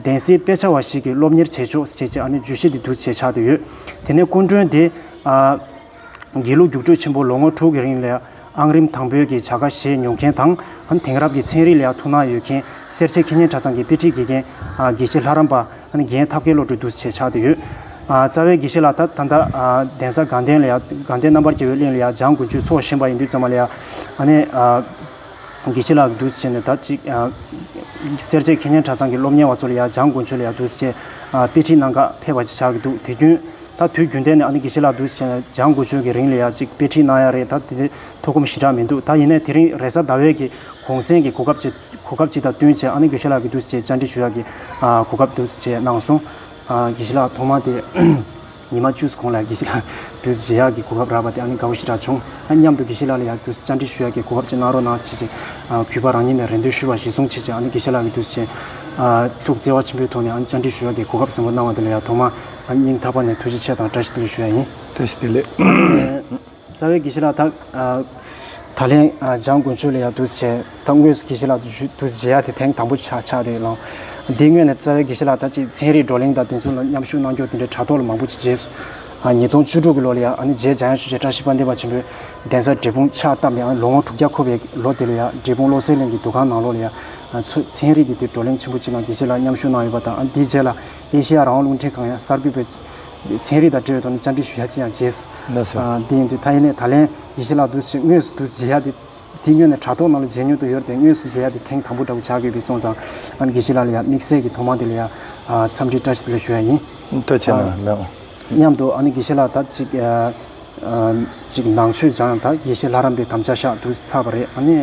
གདན་སའི་དཔེ་ཆ་བ་ཞིག་གིས་སློབ་གཉེར་བྱེད་ཆོག་ཅེས་ཨ་ནུའི་བརྗོད་གཞི་འདི་བསྡུ་བྱས་ཆགས་དུ་ཡོད། དེ་ནས་སྐུ་མགྲོན་དེས། དགེ་ལུགས་རྒྱུགས་སྤྲོད་ཆེན་པོ་ལོ་ངོ་དྲུག་གི་རིང་ལས་ཨང་རིམ་དང་པོའི་གི་བྱ་དགའ་བཞེས་མྱོང་མཁན་དང། དེང་རབས་ཀྱི་ཚན་རིག་ལའང་ཐུགས་སྣང་ཡོད་མཁན་སེར་བྱེས་ཁེ་ཉེན་གྲྭ་ཚང་གི་དཔེ་ཁྲིད་དགེ་རྒན། དགེ་བཤེས་ལྷ་རམས་པ། རྒན་ཐབས་མཁས་བློ་གྲོས་བསྡུ་བྱས་ཆགས་དུ་ཡོད། རྩ་བའི་དགེ་བཤེས་ལགས་ད་ལྟ་གདན་ས་དགའ་ལྡན་ལའང་དགའ་ལྡན་རྣམ་པར་རྒྱལ་བའི་གླིང་ལའང་འཇང་དགུན་ཆོས་ཚོགས་བཞེངས་པ་ཡིན་དུས་ཚང་མ་ལའང། དགེ་ཆེ་ལགས་ཀྱིས་དུས་ཚོད་སྤྱད་ནས་ད་ཅིག་སེར་བྱེས་མཁས་སྙན་གྲྭ་ཚང་གི་སློབ་གཉེར་བ་ཚོ་ལ་ཡང་སྦྱང་དགོས་ཆོས་ལ་ཡང་དུས་ཚོད་སྤྱད། དཔེ་ཁྲིད་གནང་ཁག་ཕེབས་པ་ཅིག་ཆགས་ཀྱི་འདུག་དེ་རྒྱུན་ད་དུས་རྒྱུན་ལྡན་ནས་ཨ་ནི་དགེ་ཆེ་ལགས་དུས་ཚོད་སྤྱད་ནས་སྦྱང་དགོས་ཆོས་ཀྱི་རིང་ལ་ཡང་ཅིག་དཔེ་ཁྲིད་གནང་ཡ་རེད་ད་དེ་འདྲའི་ཐོ་གོམ་ཞི་དྲག་མི་འདུག་ད་ཡིན་ནའི་དེ་རིང་རེས་གཟའ་ཟླ་བས་ཀྱི་གུང་སེང་གི་གོ་སྐབས་ཅིག་གོ་སྐབས་ཅིག་དང་བསྟུན་བྱས་ཨ་ནི་དགེ་ཆེ་ལགས་ཀྱིས་དུས་ཚོད་སྤྱད་བཅར་འདྲི་ཞུ་ཡག་གི་གོ་སྐབས་དུས་ཚོད་སྤྱད་གནང་སོང། དགེ་ཆེ་ལགས་ཐོག་མ་དེ། ཉི་མ་བཅུ་སོང་ལ་དགེ་བཤེས་ལགས་གྱུར་ཟེར་གྱིས་ཡག་གི་གོ་སྐབས་རག་པ་དེ་ཨ་ནི་དགའ་བོ་ཞེ་དྲག་བྱུང། ཨ་མཉམ་དུ་དགེ་བཤེས་ལགས་ལ་ཡག་གྱུར་བཅར་འདྲི་ཞུ་ཡག་གི་གོ་སྐབས་ཅིག་གནང་རོགས་གནང་ཟེར་གྱིས་གུས་པ་རང་ཉིད་ནས་རེ་འདུན་ཞུས་པར་གཞི་བཟུང་བྱེད་ཅིག་ཨ་ནི་དགེ་བཤེས་ལགས་ཀྱི་དུས་ཆེན་ཐུགས་བརྩེ་བ་ཆེན་པོའི་ཐོག་ནས་ཨ་ནི་བཅར་འདྲི་ཞུ་ཡག་གི་གོ་སྐབས་བཟང་པོ་གནང་བ་དེ་ལ་ཡག་ཐོག་མ་ཨ་མྱིང་ཐག་པ་ནས་ཐུགས་རྗེ་ཆེ་དང་བཀྲ་ཤིས་བདེ་ལེགས་ཞུ་ཡག་ཡིན། བཀྲ་ཤིས་བདེ་ལེགས། རྩ་བའི་གྱི་ཤི་ལ་དག། ད་ལན་འཇང་དགུན་ཆོས་ལ་ཡང་དུས་སུ་བྱས། ད་དངོས་སུ་གྱི་ཤི་ལ་དུས་སུ་བྱས་ཡ་དེ་ཐེངས་དང་པོ་ཆགས་ཆགས་རེད་ལང། འདི་སྔོན་ནས་རྩ་བའི་གྱི་ཤི་ལ་དག་ཅེས་ཚན་རིག་བགྲོ་གླེང་དང་དེ་མཚུངས་ལ་མཉམ་ཞུགས་གནང་སྐྱོང་དེ་འདྲའི་དྲ་ཐོག་ལ་མང་པོ་ཅིག་རྗེས་སུ། ཉིས་སྟོང་བཅུ་དྲུག་གི་ལོ་ལ་ཡང་ཨ་ནི་རྗེ་འཇང་ཡང་ཞུ་བྱེད་བཀྲ་ཤིས་པ་འདེབས་པ་ཆེན་པོའི་གདན་སར་འབྲས་སྤུངས་ཕྱག་བཏབ་ནས་ཨ་ནི་ལོ་ངོ་དྲུག་བརྒྱ་འཁོར་བའི་ལོ་དེ་ལ་ཡང་འབྲས་སྤུངས་བློ་གསལ་གླིང་གི་འདུ་ཁང་ནང་ལོ་ལ་ཡང་ཚོས་ཚན་རིག་གི་དེ་བགྲོ་གླེང་ཆེན་པོ་ཅིག་ནང་གྱི་ཤི་ལ་མཉམ་ཞུགས་གནང་ཡོད་པ་དང་ཨ་ནི་དེའི་རྗེས་ལ་ཨེ་ཤེ་ཡ་རང་དབང་རླུང་འཕྲིན་ཁང་ཡང་གསར་འགོད་པའི་ཚན་རིག་དང་འབྲེལ་བའི་ཐོག་ནས་བཅར་འདྲི་ཞུ་ཡ་ཅི་ཡང་བྱས། དེ་ཡིན་དུས་ཐ་ཡི་ལེ་ད་ལན་ཡེ་ཤེས་ལགས་དུས་ཕྱིར་དངོས་སུ་དུས་མཇལ་ཡ་དེ། དེ་སྨྱོས་ནས་དྲ་ཐོག་ནང་ལ་མཇལ་མྱོང་དུ་ཡོད་རེད་དངོས་སུ་མཇལ་ཡ་དེ་ཐེངས་དང་པོ་འདྲ་བོ་བྱ་དགོས་པའི་སོང་ཙང། ཨ་དགེ་བཤེས་ལགས་ལ་ཡང་དམིགས་བསལ་གྱི་ཐོག་མང་དེ་ལ་ཡང། འཚམས་འདྲི་བཀྲ་ཤིས་བདེ་ལེགས་ཞུ་ཡ་ཡིན། ལྟོས་ཆེ་ན་ལགས། སྙམ་དུ་ཨ་ནི་དགེ་བཤེས་ལགས་ད་ཅིག། ཅིག་ནང་ཆོས་སྦྱང་ཡང་ད་དགེ་བཤེས་ལྷ་རམས་པའི་དམ་བཅའ་ཤག་དུས་ཚར་བ་རེད་ཨ་ནི།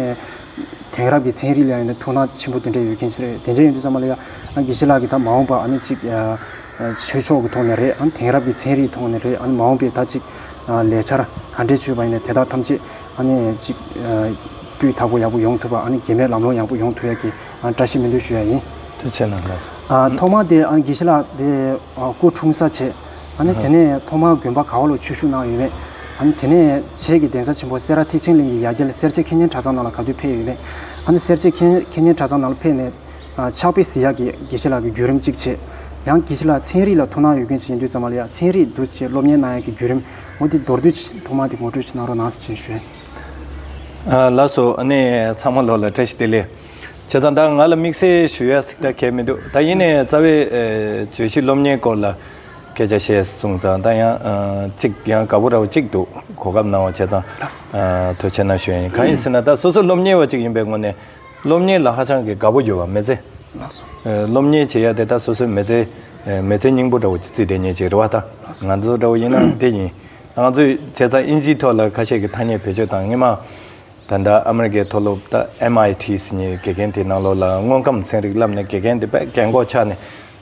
དེང་རབས་ཀྱི་ཚན་རིག་ལ་ཡང་ཐུགས་སྣང་ཆེན་པོ་དེ་འདྲ་ཡོད་མཁན་ཞིག་རེད་དེ་འདྲ་ཡིན་དུས་ཙང་མ་ལ་ཡང། ཨ་དགེ་བཤེས་ལགས་ཀྱིས་ད་མ་འོངས་པར་ཨ་ནི་ཅིག། ཆོས་ཕྱོགས་ཀྱི་ཐོག་ནས་རེད་ཨང་དེང་རབས་ཀྱི་ཚན་རིག་ཐོག་ནས་རེད་ཨང་མ་འོངས་པའི་ད་ཅིག་ལས་འཆར་ག་འདྲས་བྱོས་པ་ཡིན་ནས་དེ་དག་ཐམས་ཅད་ཨང་ཅིག་སྐུའི་དག་པོ་ཡག་པོ་ཡོང་ཐུབ་པ་ཨང་དགེ་མེད་ལམ་ལོང་ཡག་པོ་ཡོང་ཐུབ་ཡག་གི་ཨང་བཀྲ་ཤིས་སྨོན་འདུན་ཞུ་ཡག་ཡིན། ཅི་བྱས་ན་འདྲ་སོང། ཐོག་མ་དེ་ཨང་དགེ་བཤེས་ལགས་དེ་སྐུ་འཁྲུངས་ས་བྱས་ཨང་དེ་ནས་ཐོག་མ་དགོན་པ་ག་བ་ལོ་ཆོས་ཞུགས་གནང་ཡོད་མེད་ཨང་དེ་ནས་བྱས་ཀྱི་གདན་ས་ཆེན་པོ་སེ་ར་ཐེག་ཆེན་གླིང་གི་ཡ་གྱལ་སེར་བྱེས་མཁས་སྙན་གྲྭ་ཚང་ནང་ལ་ག་དུས་ཕེབས་ཡོད་མེད་ཨང་སེར་བྱེས་མཁས་སྙན་གྲྭ་ཚང་ནང་ལ་ཕེབས་ནས། ཆགས་པའི་བཟི་ཡག་གི་དགེ་བཤེས་ལགས་ཀྱི་བརྒྱུད་རིམ་གཅིག་བྱས། ཡང་དགེ་བཤེས་ལགས་ཚན་རིག་ལ་ཐུགས་སྣང་ཡོད་མཁན་ཞིག་ཡིན་དུས་ཙམ་མ་ལ་ཡ་ཚན་རིག་འདུ་བྱེད་སློབ་གཉེར་གནང་ཡག་གི་བརྒྱུད་རིམ་ངོ་དེ་མདོར་བསྡུས་ཐོག་མ་དེ་ངོ་སྤྲོད་ཅིག་གནང་རོགས་གནང་ཟེར་བྱས་ཞུས། ལགས་སོ་ཨ་ནི་ཚང་མ་ལོག་ལ་བཀྲ་ཤིས་བདེ་ལེགས། བྱས་ཙང་ད་ང་ལ་དམིགས་བསལ་ཞུ་ཡག་ཟིག་ད་གལ་མི་འདུག་ད་ཡིན་ནའི་རྩ་བའི་བརྗོད་གཞི་སློབ་གཉེར་སྐོར་ལ་སྐད་ཆ་བཤད་གསུངས་ཙང་ད་ཡང་གཅིག་ཡང་དགའ་བོ་ར་བ་གཅིག་འདུག་གོ་སྐབས་གནང་བ་བྱས་ཙང་དོད་ཆེ་གནང་ཞུ་ཡིན་གང་ཡིན་ཟེར་ན་ད་སོ་སོ་སློབ་གཉེར་བ་གཅིག་ཡིན་པའི་ངོ་ནས་སློབ་གཉེར་ལ་ཧ་ཅང་གི་དགའ་པོ་གྱུར་བ་མི་ཚེ། སློབ་གཉེར་བྱེད་ཡ་དེ་དག་སོ་སོའི་མི་ཚེ། མི་ཚེ་སྙིང་པོ་འདྲ་བོ་ཀྱི་རྩིས་དེ་ཉིད་ཅིག་རེད་བ་ད། ང་ཚོ་འདྲ་བོ་ཡིན་ན་དེ་ཡིན། ང་ཚོས་བྱས་ཙང་དབྱིན་ཇིའི་ཐོག་ལ་ཁ་ཤས་ཀྱི་ཐ་སྙད་བེད་སྤྱོད་དང་སྔོན་མ། ད་ལྟ་ཨ་མི་རི་ཀའི་མཐོ་སློབ་ད MIT སིནིའི་དགེ་རྒན་དེའི་ནང་ལོགས་ལ་དངོས་ཁམས་ཚན་རིག་བསླབས་ནས་དགེ་རྒན་དེ་དཔེ་རྒན་སྒོ་ཆགས་ནས་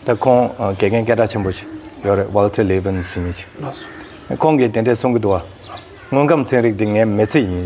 ད་ཁོང་དགེ་རྒན་སྐད་གྲགས་ཆེན་པོ་ཞིག་ཡོད་རེད Walter Levin སིནི་ཅིག། ཁོང་གིས་དེ་འདྲས་གསུང་གི་འདུག་བ། དངོས་ཁམས་ཚན་རིག་དེ་ངའི་མི་ཚེ་ཡིན།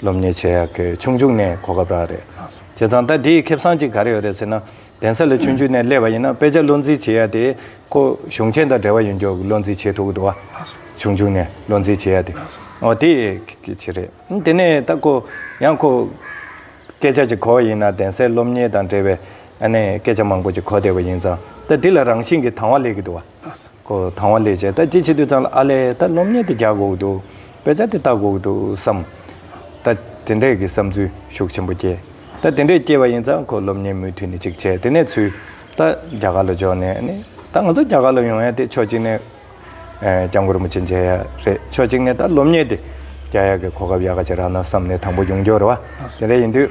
སློབ་གཉེར་བྱེད་ཡག་གི་ཆུང་ཆུང་ནས་གོ་སྐབས་རག་རེད་མ་སོང་བྱས་ཙང་ད་དེའི་ཁེབ་སང་ཅིག་ག་རེ་ཡོད་རེད་ཟེར་ན་གདན་ས་ལ་ཆུང་ཆུང་ནས་སླེབས་པ་ཡིན་ན་དཔེ་ཆ་བློ་འཛིན་བྱེད་ཡག་དེ་ཁོ་གཞུང་ཆེན་དང་འབྲེལ་བ་ཡོད་རྒྱུ་བློ་འཛིན་བྱེད་ཐུབ་གི་འདུག་བ་མ་སོང་ཆུང་ཆུང་ནས་བློ་འཛིན་བྱེད་ཡག་དེ་མ་སོང་ཨོ་དེ་གི་ཆེ་རེད་དེ་ནས་ད་ཁོ་ཡང་ཁོ་སྐད་ཆ་ཅིག་གོ་བ་ཡིན་ན་གདན་སའི་སློབ་གཉེར་དང་འབྲེལ་བའི་ཨ་ནེ་སྐད་ཆ་མང་པོ་ཅིག་གོ་བསྡད་པ་ཡིན་ཙང་ད་དེ་ལ་རང་བཞིན་གི་དང་བ་ལེགས་གི་འདུག་བ། ཁོ་དང་བ་ལས་བྱས་ད་ཅི་བྱེད་དུས་ཚང་ལ་ཨ་ལས་ད་སློབ་གཉེར་དེ་རྒྱག་དགོས་འདུག་དཔེ་ཆ་དེ་ལྟ་དགོས་འདུག་བསམ། ད་དེ་འདྲས་ཀྱི་བསམ་ཚུལ་ཤུགས་ཆེན་པོ་སྐྱེས། ད་དེ་འདྲས་སྐྱེས་པ་ཡིན་ཙང་ཁོ་སློབ་གཉེར་མུ་མཐུད་ནས་ཅིག་བྱས་དེ་ནས་ཚུད། ད་རྒྱ་གར་ལ་འབྱོར་ནས་ནི་ད་ང་ཚོ་རྒྱ་གར་ལ་ཡོང་ཡ་དེ་ཕྱོགས་གཅིག་ནས། སྐྱབས་མགོན་རིན་པོ་ཆེ་མཇལ་ཡ་རེད་ཕྱོགས་གཅིག་ནས་ད་སློབ་གཉེར་དེ་རྒྱག་ཡ་གི་གོ་སྐབས་ཡག་ག་ཅིག་རག་ན་བསམ་ནས་དང་པོ་ཡོང་རྒྱུར་བ་དེ་འདྲས་ཡིན་དུས།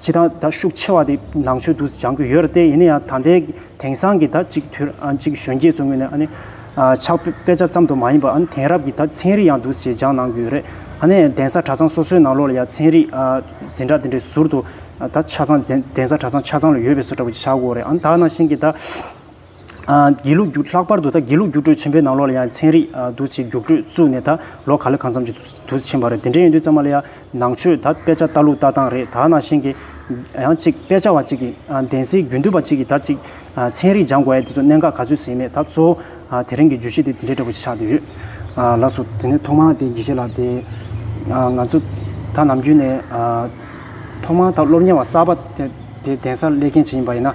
ཇི་ལྟར་ད་ཤུགས་ཆེ་བ་དེ་ནང་ཆོས་དུ་སྦྱང་གི་ཡོད་རེད་དེ་ཡིན་ན་ཡང་ད་ལྟའི་དེང་སང་གི་ད་གཅིག་དུས་གཅིག་གཞོན་སྐྱེས་ཚོ་ངོས་ནས་ཕྱག་དཔེ་ཆ་ཙམ་དུ་མ་ཡིན་པ་དེང་རབས་ཀྱི་ད་ཚན་རིག་ཡང་དུ་ཞེས་སྦྱང་གནང་གི་ཡོད་རེད་ཨ་ནས་གདན་ས་གྲྭ་ཚང་སོ་སོའི་ནང་ལོགས་ལ་ཡང་ཚན་རིག་འཛིན་གྲྭ་དེ་འདྲའི་ཟུར་དུ་ད་ཆ་ཚང་གདན་ས་གྲྭ་ཚང་ཆ་ཚང་ལ་ཡོད་པའི་སོ་འདྲ་པོ་ཅིག་བྱ་དགོས་རེད་ཨ་ནས་ད་ནང་བཞིན་གྱི་ད། དགེ་ལུགས་རྒྱུགས་ལྷག་པར་དུ་ད་དགེ་ལུགས་རྒྱུགས་སྤྲོད་ཆེན་པོའི་ནང་ལོགས་ལ་ཡང་ཚན་རིག་དུ་ཆེས་རྒྱུགས་སྤྲོད་བཙུགས་ནས་ད་ལོ་ག་ལེ་གང་འཚམ་གྱི་དུ་ཕྱིན་པ་རེད་དེ་འདྲ་ཡིན་དུས་ཙང་མ་ལ་ཡ་ནང་ཆོས་ད་དཔེ་ཆ་ལྟ་ལུགས་ལྟ་སྟངས་རེད་ད་ནང་བཞིན་གྱི་ཡང་གཅིག་དཔེ་ཆ་བ་གཅིག་གིས་གདན་སའི་རྒྱུན་སྡོད་པ་གཅིག་གིས་ད་ཅིག་ཚན་རིག་སྦྱང་དགོས་ཡ་དེ་ཚོ་གནད་འགག་ག་ཚོད་ཟིན་མེད་ད་གཙོ་བོ་དེ་རིང་གི་བརྗོད་གཞི་དེ་དེ་འདྲ་འདྲ་པོ་ཞིག་ཆགས་བསྡད་ཡོད་ལགས་སོ། དེ་ནས་ཐོག་མར་དེ་དགེ་བཤེས་ལགས་དེ་ང་ཚོ་ད་ནམ་རྒྱུན་ནས་ཐོག་མར་ད་སློབ་གཉེར་བ་གསར་པ་དེ་གདན་སར་སླེབས་མཁན་ཞིག་ཡིན་པ་ཡིན་ན།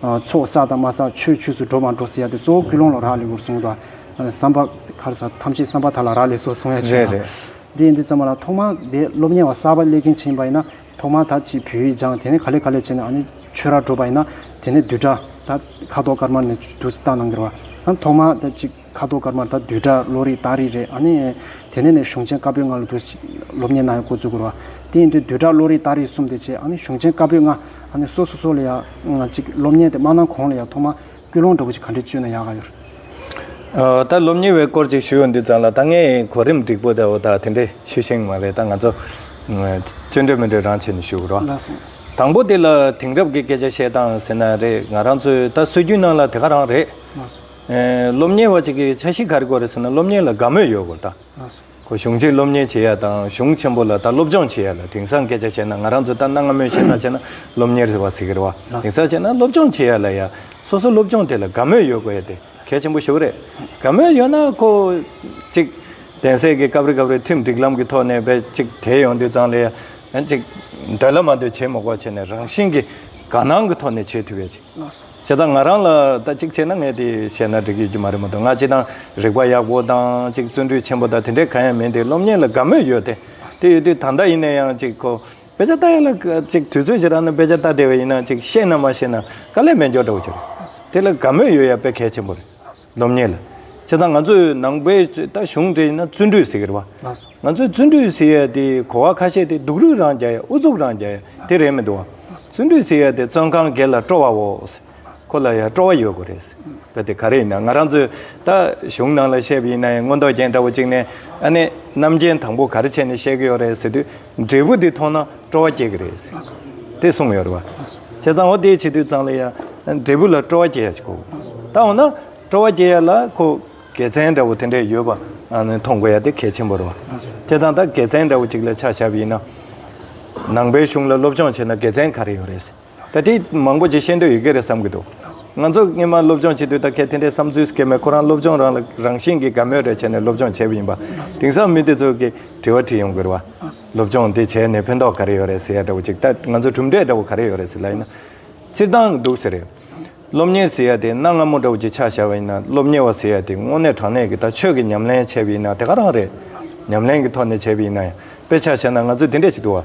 ཚོགས་བསགས་དང་མ་བསགས་ཆོས་ཆོས་སུ་འགྲོ་མ་འགྲོ་ཟེར་ཡ་དེ་གཙོ་བོ་ཀུན་སློང་ལ་རག་ལས་ཁུར་གསུངས་དང། བསམ་པ། ཁར་ས་ཐམས་ཅད་བསམ་པ་དག་ལ་རག་ལས་སོགས་གསུངས་ཡ་བྱུང། དེ་ཡིན་དུས་ཙམ་མ་ལ་ཐོག་མར་དེ་སློབ་གཉེར་བ་གསར་པ་སླེབས་མཁན་བྱིན་པ་ཡིན་ན་ཐོག་མར་ད་ཅིག་བོད་ཡིག་སྦྱངས་དེ་ནས་ག་ལེ་ག་ལེ་བྱས་ནས་ཨ་ནི་ཆོས་རར་འགྲོ་པ་ཡིན་ན་དེ་ནས་བསྡུས་གྲྭ་ད་ཁ་དོག་དཀར་དམར་ནས་བསྡུ་བསྟ་གནང་གི་རེད་བ། ཐོག་མར་ད་ཅིག། ཁ་དོག་དཀར་དམར་དང་བསྡུས་གྲྭ་བློ་རིག་དག་རིག་རེད་ཨ་ནི། དེ་ནས་ནས་གཞུང་ཆེན་བཀའ་པོད་ལྔ་ལ་དུ་སློབ་གཉེར་གནང་ཡང་གོ་ཚུལ་གོ་ར་བ། དེ་ཡིན་དུས་བསྡུས་གྲྭ་བློ་རིག་དག་རིག་གསུམ་དེ་བྱས་ཨ་ནི་གཞུང་ཆེན་བཀའ་པོད་ལྔ་ཨ་ནི་སོ་སོ་སོ་ལ་ཡང་གཅིག་སློབ་གཉེར་དེ་མ་གནང་གོང་ལ་ཡང་ཐོག་མ་སྐུལ་སློང་འདྲ་པོ་ཅིག་ག་འདྲས་བཅོས་ན་ཡག་ག་ཡོད། ད་སློབ་གཉེར་བའི་སྐོར་ཅིག་ཞུ་ཡོང་དུས་ཙང་ལ་ད་ངས་གོ་རིམ་འགྲིག་པོ་དེའོ་ད་དེ་འདྲས་ཞུ་ཤེས་ངེས་མ་རེད་ད་ང་ཚོ། སྤྱོད་འགྲོས་མི་འགྲོས་རང་བྱས་ནས་ཞུ་གོ་ར་བ། ལགས་སོ། དང་པོ་དེ་ལ་དེང་རབས་ཀྱི་སྐད་ཆ་བཤད་སྟངས་ཟེར་ན་རེད་ང་རང་ཚོའི་ད་སྲོལ་རྒྱུན་ནང་ལ་དེ་ག་རང་རེད། ལགས་སོ། སློབ་གཉེར་བ་ཅིག་གིས་འཆར་གཞི་ག་རེ་དགོས་རེད་ཟེར་ན་སློབ་གཉེར་ལ་དགའ་མོས་ཡོད་དགོས་ད། གོ་གཞུང་ཆེད་སློབ་གཉེར་བྱེད་ཡ་དང་གཞུང་ཆེན་པོ་ལ་ད་སློབ་སྦྱོང་བྱེད་ཡ་ལ་དེང་སང་སྐད་ཆ་བཤད་ན་ང་རང་ཚོ་ད་གནའ་སྔ་མོའི་བཤད་སྟངས་བཤད་ན་སློབ་གཉེར་ཟེར་བ་ཟིག་གེར་བ་དེང་སང་བཤད་ན་སློབ་སྦྱོང་བྱེད་ཡ་ལ་ཡ་སོ་སོ་སློབ་སྦྱོང་དེ་ལ་དགའ་མོས་ཡོད་དགོས་ཡ་དེ་གལ་ཆེན་པོ་ཞིག་རེད་དགའ་མོས་ཡོད་ན་ཁོ། ཅིག། གདན་སའི་གི་སྐབས་རེ་སྐབས་རེ་ཁྲིམས་སྒྲིག་ལམ་གི་ཐོག་ནས་བས་ཅིག་དེ་ཡོང་དུས་ཙང་ལ་ཡ། ཅིག། འདོད་ལ་མ་འདོད་བྱེད་མི་དགོས་བྱས་ནས་རང་བཞིན་གི་དགའ་སྣང་གི་ཐོག་ནས་བྱེད་ཐུབ་ཡ་ཅིག། བྱས་ཙང་ང་རང་ལ་ད་གཅིག་བྱས་ན་ངས་དེ་བྱས་ན་འགྲིག་ཡོད་ཀྱི་མ་རེད་མ་གཏོགས་ང་གཅིག་དང་རིག་པ་ཡག་པོ་དང་གཅིག་བརྩོན་འགྲུས་ཆེན་པོ་དང་དེ་འདྲས་གང་ཡང་མིན་ཏེ་སློབ་གཉེར་ལ་དགའ་མོས་ཡོད་དེ། དེ་ཡོད་དུས་ད་ལྟ་ཡིན་ན་ཡང་གཅིག་ཁོ་དཔེ་ཆ་ལྟ་ཡ་ལ་གཅིག་དུས་ཚོད་ཅིག་རག་ན་དཔེ་ཆ་ལྟ་བདེ་བ་ཡིན་ན་གཅིག་ཤེས་ན་མ་ཤེས་ན་དཀའ་ལས་མེད་མགྱོགས་འདྲ་བོ་ཅིག་རེད། དེ་ལ་དགའ་མོས་ཡོད་ཡ་དཔེ་གལ་ཆེན་པོ་རེད། སྡོམ་ཉེས་ལ། བྱས་ཙང་ང་ཚོས་ནང་པའི་ད་གཞུང་འབྲེལ་ཡིན་ན་བརྩོན་འགྲུས་ཟེར་གི་རེད་བ། ང་ཚོས་བརྩོན་འགྲུས་ཟེར་ཡས་དེ་གོ་བ་ཁ་ཤས་དེ་སྡུག་རུས་རང་རྒྱག་ཡས་ཨུ་ཚུགས་རང་རྒྱག་ཡས་དེ་རེད་མི་འདུག་བ། བརྩོན་འགྲུས་ཟེར་ཡས་དེ་བཙོན་ཁང་སྒེར་ལ་སྤྲོ་བའོ། ཁོ་ལ་ཡ་སྤྲོ་བ་ཡོད་དགོས་རེད། གལ་ཏེ་ག་རེ་ཡིན་ན་ང་རང་ཚོས་ད་གཞུང་ནང་ལ་བཤད་པ་ཡིན་ན་ཡང་མངོན་རྟོགས་ཅན་འདྲ་བོ་གཅིག་ནས་ཨ་ནེ་རྣམ་མཁྱེན་དང་པོ་ག་རེ་བྱས་ནས་བཤད་གི་ཡོད་རེད་ཟེར་དུས་འབྲས་བུ་དེ་མཐོང་ན་སྤྲོ་བ་སྐྱེ་གི་རེད། དེ་གསུངས་ཡོད་རེད། བྱས་ཙང་འོ་དེའི་ཕྱི་དུས་ཙང་ལ་ཡང་འབྲས་བུ་ལ་སྤྲོ་བ་སྐྱེ་ཡག་ཅིག་གོ། ད་འོ་ན་སྤྲོ་བ་སྐྱེ་ཡག་ལ་ཁོ་དགེ་མཚན་འདྲ་བོ་དེ་འདྲས་ཡོད་པ་མཐོང་དགོས་ཡག་དེ་གལ་ཆེན་པོ་རེད། བྱས་ཙང་ད་དགེ་མཚན་འདྲ་བོ་ཅིག་ལ་ཆ་བཞག་པ་ཡིན་ན། ནང་པའི་གཞུང་ལ་སློབ་སྦྱོང་བྱས་ན་དགེ་མཚན་ག་རེ་ཡོད་རེད། ད་ལྟའི་མང་པོ་ཅིག་ཤེས་འདོད་ཡོད་ཀྱི་རེད་བསམ་གྱི་འདུག་ང་ཚོ་སྔོན་མ་སློབ་སྦྱོང་བྱེད་དུས་ད་གལ་དེ་འདྲའི་བསམ་ཚུལ་སྐྱེས་མོད་ཁོ་རང་སློབ་སྦྱོང་རང་ལ་རང་བཞིན་གྱིས་དགའ་མོས་རེ་བྱས་ནས་སློབ་སྦྱོང་བྱས་པ་ཡིན་པ། དེང་སང་མི་དེ་ཚོ་གིས་དྲི་བ་དྲིས་ཡོང་གི་རེད་བ། སློབ་སྦྱོང་དེ་བྱས་ནས་ཕན་ཐོགས་ག་རེ་ཡོད་རེད་ཟེར་ཡ་འདྲ་བོ་ཅིག་ད་ང་ཚོ་གྲུབ་འབྲས་འདྲ་བོ་ག་རེ་ཡོད་རེད་ཟེར་ལ་ཡིན་ན། སྤྱིར་བཏང་འདུག་ཟེར། སློབ་གཉེར་ཟེར་ཡ་དེ་གནའ་སྔ་མོ་འདྲ་བོ་ཅིག་ཆགས་བཞག་པ་ཡིན་ན་སློབ་གཉེར་བ་ཟེར་ཡ་དེ་དངོས་གནས་དྲང་གནས་ཀྱི་ད་ཆོས་ཀྱི་ཉམས་ལེན་བྱས་པ་ཡིན་ན་དེ་ག་རང་རེད། ཉམས་ལེན་གྱི་ཐོག་ནས་བྱས་པ་ཡིན་ན་ཡང་དཔེ་ཆ་བཞག་ན་ང་ཚོ་དེ་འདྲས་ཅིག་འདུག་བ།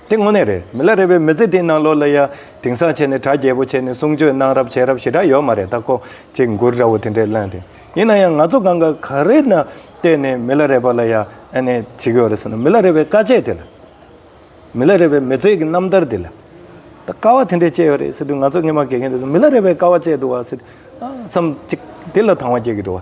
དེ་དངོས་གནས་རེད་མི་ལ་རེ་བའི་མི་ཚེ་འདི་ནང་ལོ་ལ་ཡ་དེང་སང་བྱས་ནས་གྲ་རྒྱས་པོ་བྱས་ནས་གསུང་ཆོས་གནང་རབས་བྱས་རབས་ཞེ་དྲག་ཡོད་མ་རེད་ད་ཁོག་ཅིག་མགུར་འདྲ་བོ་དེ་འདྲས་ལན་དེ་ཡིན་ན་ཡང་ང་ཚོ་གང་ག་ག་རེ་ན་བལྟས་ནས་མི་ལ་རེ་བ་ལ་ཡ་ཨེ་ནས་བྱེད་ཀྱི་ཡོད་རེད་ཟེར་ན་མི་ལ་རེ་བའི་དཀའ་སྤྱད་དེ་ལ་མི་ལ་རེ་བའི་མི་ཚེ་གི་རྣམ་ཐར་དེ་ལ་ད་དཀའ་བ་དེ་འདྲས་སྤྱད་ཡོད་རེད་ཟེར་དུས་ང་ཚོ་སྔས་མ་གས་མཁན་དེ་ཚོ་མི་ལ་རེ་བའི་དཀའ་བ་སྤྱད་འདུག་བ་ཟེར་དུས་ཨ་མཚམས་ཅིག་དེ་ལ་དང་བ་སྐྱེ་གི་འགྲོ་བ་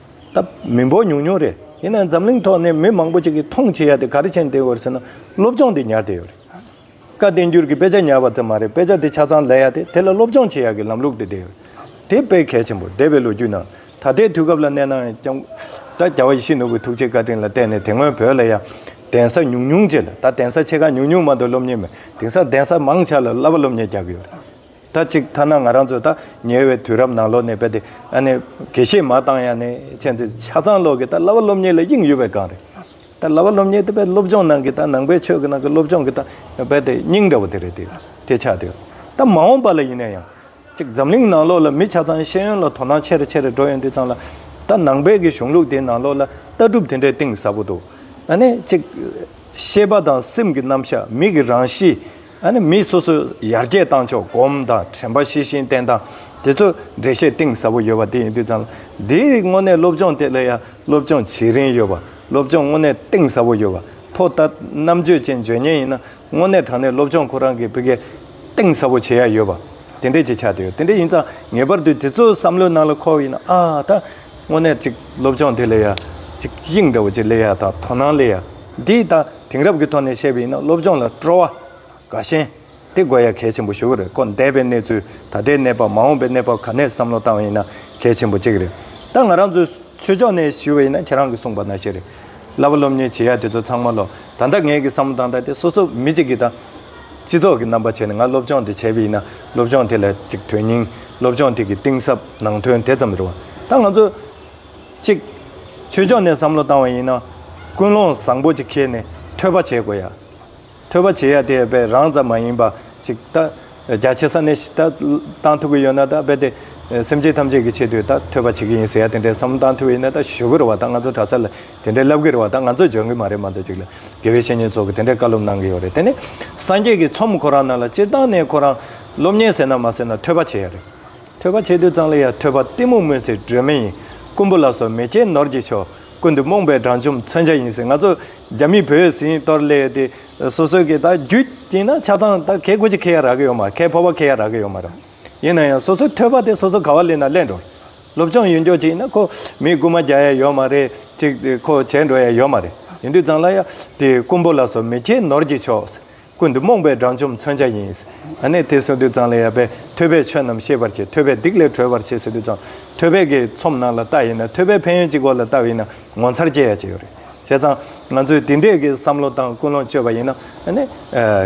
ད་མི་འབོར་ཉུང་ཉུང་རེད་ཡིན་ནའང་འཛམ་གླིང་ཐོག་ནས་མི་མང་པོ་ཅིག་གིས་མཐོང་བྱེད་ཡ་དེ་ག་རེ་བྱེད་འདི་འོར་ཟེར་ན་སློབ་སྦྱོང་འདི་ཉར་དེ་ཡོད་རེད། བཀའ་བསྟན་འགྱུར་གྱི་དཔེ་ཆ་ཉར་བ་ཙམ་མ་རེད་དཔེ་ཆ་དེ་ཆ་ཚང་ལས་ཡ་དེ་དེ་ལ་སློབ་སྦྱོང་བྱེད་ཡ་གི་ལམ་ལུགས་དེ་འདི་ཡོད་རེད། དེ་དཔེ་གལ་ཆེན་པོ་འདས་པའི་ལོ་རྒྱུས་ནང་ད་ལྟའི་དུས་སྐབས་ལ་གནས་ནའང་ཀྱང། ད་རྒྱ་བ་ཡེ་ཤེས་ནོར་བུའི་ཐུགས་རྗེའི་བཀའ་དྲིན་ལ་བརྟེན་ནས་དེ་སྔོན་བོད་ལ་ཡ། གདན་ས་ཉུང་ཉུང་བྱས་ལ་ད་གདན་ས་ཆེ་ཁག་ཉུང་ཉུང་མ་གཏོགས་སློབ་གཉེར་མི་དེང་སང་གདན་ས་མང་ཆགས་ལ་བསླབ་པ་སློབ་གཉེར་རྒྱག་གི་ཡོད་རེད། ད་ཅིག་ཐ་ན་ང་རང་ཚོ་ད་ཉེ་བའི་དུས་རབས་ནང་ལོག་ནས་བལྟས་ཏེ་ཨ་ནེ། དགེ་བཤེས་མ་བཏང་ཡང་ནི་ཁྱེད་ཚོས་ཆ་ཚང་ལོག་གི་ད་ལྭ་བ་སློབ་གཉེར་ལ་གཡེང་ཡོད་པའི་སྒང་རེད། ད་ལྭ་བ་སློབ་གཉེར་དེ་བས་སློབ་སྦྱོང་ནང་གི་ད་ནང་པའི་ཆོས་ཀྱི་ནང་གི་སློབ་སྦྱོང་གི་ད་བལྟས་ཏེ་སྙིང་འདྲ་བོ་དེ་རེད་དེ། དེ་ཆ་དེ། ད་མ་འོངས་པ་ལ་ཡིན་ན་ཡང། ཅིག་འཛམ་གླིང་ནང་ལོག་ལ་མི་ཆ་ཚང་ཤེས་ཡོན་ལ་དོ་སྣང་ཆེ་རེ་ཆེ་རེ་འགྲོ་ཡོད་འདི་ཙམ་ལ། ད་ནང་པའི་གི་གཞུང་ལུགས་དེའི་ནང་ལོག་ལ་ལྟ་གྲུབ་དེ་འདྲའི་གཏིང་ཟབ་པོ་འདུག་ཨ་ནེ། ཅིག། ཤེས་པ་དང་སེམས་ཀྱི་རྣམ་གཞག་མི་གི་རང་གཤིས། མི་སོ་སོས་ཡར་རྒྱས་བཏང་ཆོག་གོམ་དང་དྲན་པ་ཤེས་བཞིན་ཏན་དང་དེ་ཚོ་འགྲེལ་བཤད་གཏིང་ཟབ་པོ་ཡོད་པ་དེ་ཡིན་དུས་ཙང་འདིའི་རིགས་དངོས་གནས་སློབ་སྦྱོང་ཐད་ལ་ཡང་སློབ་སྦྱོང་བྱེད་རིན་ཡོད་པ་སློབ་སྦྱོང་དངོས་གནས་གཏིང་ཟབ་པོ་ཡོད་པ་ཕོ་རྟ་རྣམ་དཔྱོད་ཅན་བརྗོད་ཉན་ཡིན་ན་དངོས་གནས་དྲང་གནས་སློབ་སྦྱོང་ཁོ་རང་གི་བི་གས་གཏིང་ཟབ་པོ་བྱེད་ཡ་ཡོད་པ་དེ་འདྲས་ཀྱི་ཆ་དེ་ཡོད་དེ་འདྲས་ཡིན་ཙང་ངེས་པར་དུ་དེ་ཚོའི་བསམ་བློའི་ནང་ལ་འཁོར་བ་ཡིན་ན་ཨ་ད་དངོས་གནས་ཅིག་སློབ་སྦྱོང་དེ་ལས་ཡ་ཅིག་དབྱིངས་འདྲ་བོ་ཅིག་ལས་ཡ་དང་དོ་སྣང་ལས་ཡ་འདིས་ད། དེང་རབས་ཀྱི་ཐོག་ནས་བཤད་པ་ཡིན་ན་སློབ་སྦྱོང་ལ་སྤྲོ་བ་དགའ་ཞེན་དེ་དགོས་ཡ་གལ་ཆེན་པོ་ཞིག་རེད་ཁོ་འདས་པའི་གནས་ཚུལ་ད་ལྟའི་གནས་བབ་མ་འོངས་པའི་གནས་བབ་ག་ནས་བསམ་བློ་བཏང་བ་ཡིན་ན་གལ་ཆེན་པོ་གཅིག་རེད་ད་ང་རང་ཚོས་ཆོས་ཕྱོགས་ནས་ཞུས་པ་ཡིན་ན་ཁྱེད་རང་གི་གསུངས་པ་ནང་བཤད་རེད་གླ་པ་སློབ་གཉེར་བྱེད་ཡ་དེ་ཚོ་ཚང་མ་ལོ་ད་ལྟ་ངས་གི་བསམ་བློ་བཏང་ད་ལྟའི་སོ་སོ་མི་གཅིག་གི་ད་སྤྱི་ཚོགས་ཀྱི་རྣམ་པ་བྱས་ནས་ང་སློབ་སྦྱོང་དེ་བྱས་པ་ཡིན་ན་སློབ་སྦྱོང་དེ་ལ་གཅིག་དོན་སྙིང་སློབ་སྦྱོང་དེ་གི་གཏིང་ཟབ་ནང་དོན་དེ་ཙམ་རེད་བ་ད་ང་ཚོ། གཅིག། ཆོས་ཕྱོགས་ནས་བསམ་བློ་བཏང་བ་ཡིན་ན། ཀུན་སློང་བཟང་པོ་ཅིག་ཁྱེར་ནས་ཐོས་པ་བྱེད་དགོས་ཡ། ཐོས་པ་བྱེད་ཡ་དེ་ཡས་པས་རང་ཙམ་མ་ཡིན་པ་ཅིག་ད། རྒྱ་ཆེ་ས་ནས་ད་བཏང་ཐུབ་ཀྱི་ཡོད་ན་ད་རྦད་དེ། སེམས་ཅན་ཐམས་ཅད་ཀྱི་ཆེད་དུ་ད་ཐོས་པ་བྱེད་ཀྱི་ཡིན་ཟེར་ཡ་དེ་འདྲའི་བསམ་བློ་བཏང་ཐུབ་ཡིན་ན་ད་ཞུ་གི་རུ་བ་ད་ང་ཚོ་གྲྭ་ས་ལ་དེ་འདྲའི་ལབ་གི་རུ་བ་ད་ང་ཚོས་འཇོན་གི་མ་རེད་མ་འདོད་ཅིག་ལ་དགེ་བའི་བཤེས་གཉེན་ཚོགས་ཀྱི་དེ་འདྲའི་བཀའ་སློབ་གནང་གི་ཡོད་རེད་དེ་ནས་སངས་རྒྱས་ཀྱི་ཚོམས་ཁོ་རང་རྣམས་ལ་སྤྱིར་བཏང་ནས་ཁོ་རང་སློབ་གཉེར་ཟེར་ན་མ་ཟེར་ན་ཐོས་པ་བྱེད་ཡ་རེད། ཐོད་པ་ཆེ་དུས་གཙང་ལི་ཡ་ཐོད་པ་གཏི་མུག་མུན་སེལ་སྒྲོན་མེ་ཡིན། རྐུན་པོ་ལ་སོགས་མེ་ལྕེའི་ནོར་གྱིས་ཆོག། ཀུན་ཏུ་རྨོངས་པའི་དྲང་ཆོམ་མཚོན་ཆ་ཡིན་ཟེར་ང་ཚོ་རྒྱ་མིས་བོད་ཡུལ་ཟིན་གཏོར་སླད་དེ། སོ་སོའི་གི་ད་རྒྱུད་དཀྱིལ་ན་ཆ་ཚང་ད་གས་གོ་ཅི་ཁེ་ཡ་རག་གི་ཡོད་མ་ཁས་ཕོ་བ་ཁེ་ཡ་རག་གི་ཡོད་མ་རེད། ཡིན་ན་ཡང་སོ་སོའི་ཐོད་པ་དེ་སོ་སོ་ག་བ་ལེན་ན་ལེན་འགྲོ། སློབ་སྦྱོང་ཡུན་འགྱོགས་ཅིག་ཡིན་ན་ཁོ་མིས་རྐུན་མ་རྒྱག་ཡ་ཡོད་མ་རེད་ཅིག་ཁོ་བྱས་འགྲོ་ཡ་ཡོད་མ་རེད། ཡིན་དུས་གཙང་ལ་ཡ་དེ་རྐུན་པོ་ལ་སོགས་མེ་ལྕེའི་ནོར་གྱིས་ཆོག། ཀུན་ཏུ་རྨོངས་པའི་དགྲ་བཅོམ་མཚོན་ཆ་ཡིན། ནས་དེ་སོ་དུས་ཙང་ལ་ཡལ་པས་ཐོས་པས་ཆོས་རྣམས་ཤེས་པར་བྱེད་ཐོས་པས་སྡིག་ལས་གྲོལ་བར་བྱེད་སོ་དུས་ཙང་ཐོས་པས་དགེ་ཚོམ་རྣམས་ལ་ལྟ་ཡིན་ན་ཐོས་པས་ཕན་ཡོན་གྱི་སྐོར་ལ་ལྟ་བ་ཡིན་ན་ངོ་མཚར་སྐྱེ་ཡ་བྱེད་ཡོད་རེད་བྱས་ཙང་ང་ཚོས་དེ་འདྲས་ཀྱི་བསམ་བློ་དང་ཀུན་སློང་སྤྱོད་པ་ཡིན་ན་ནས་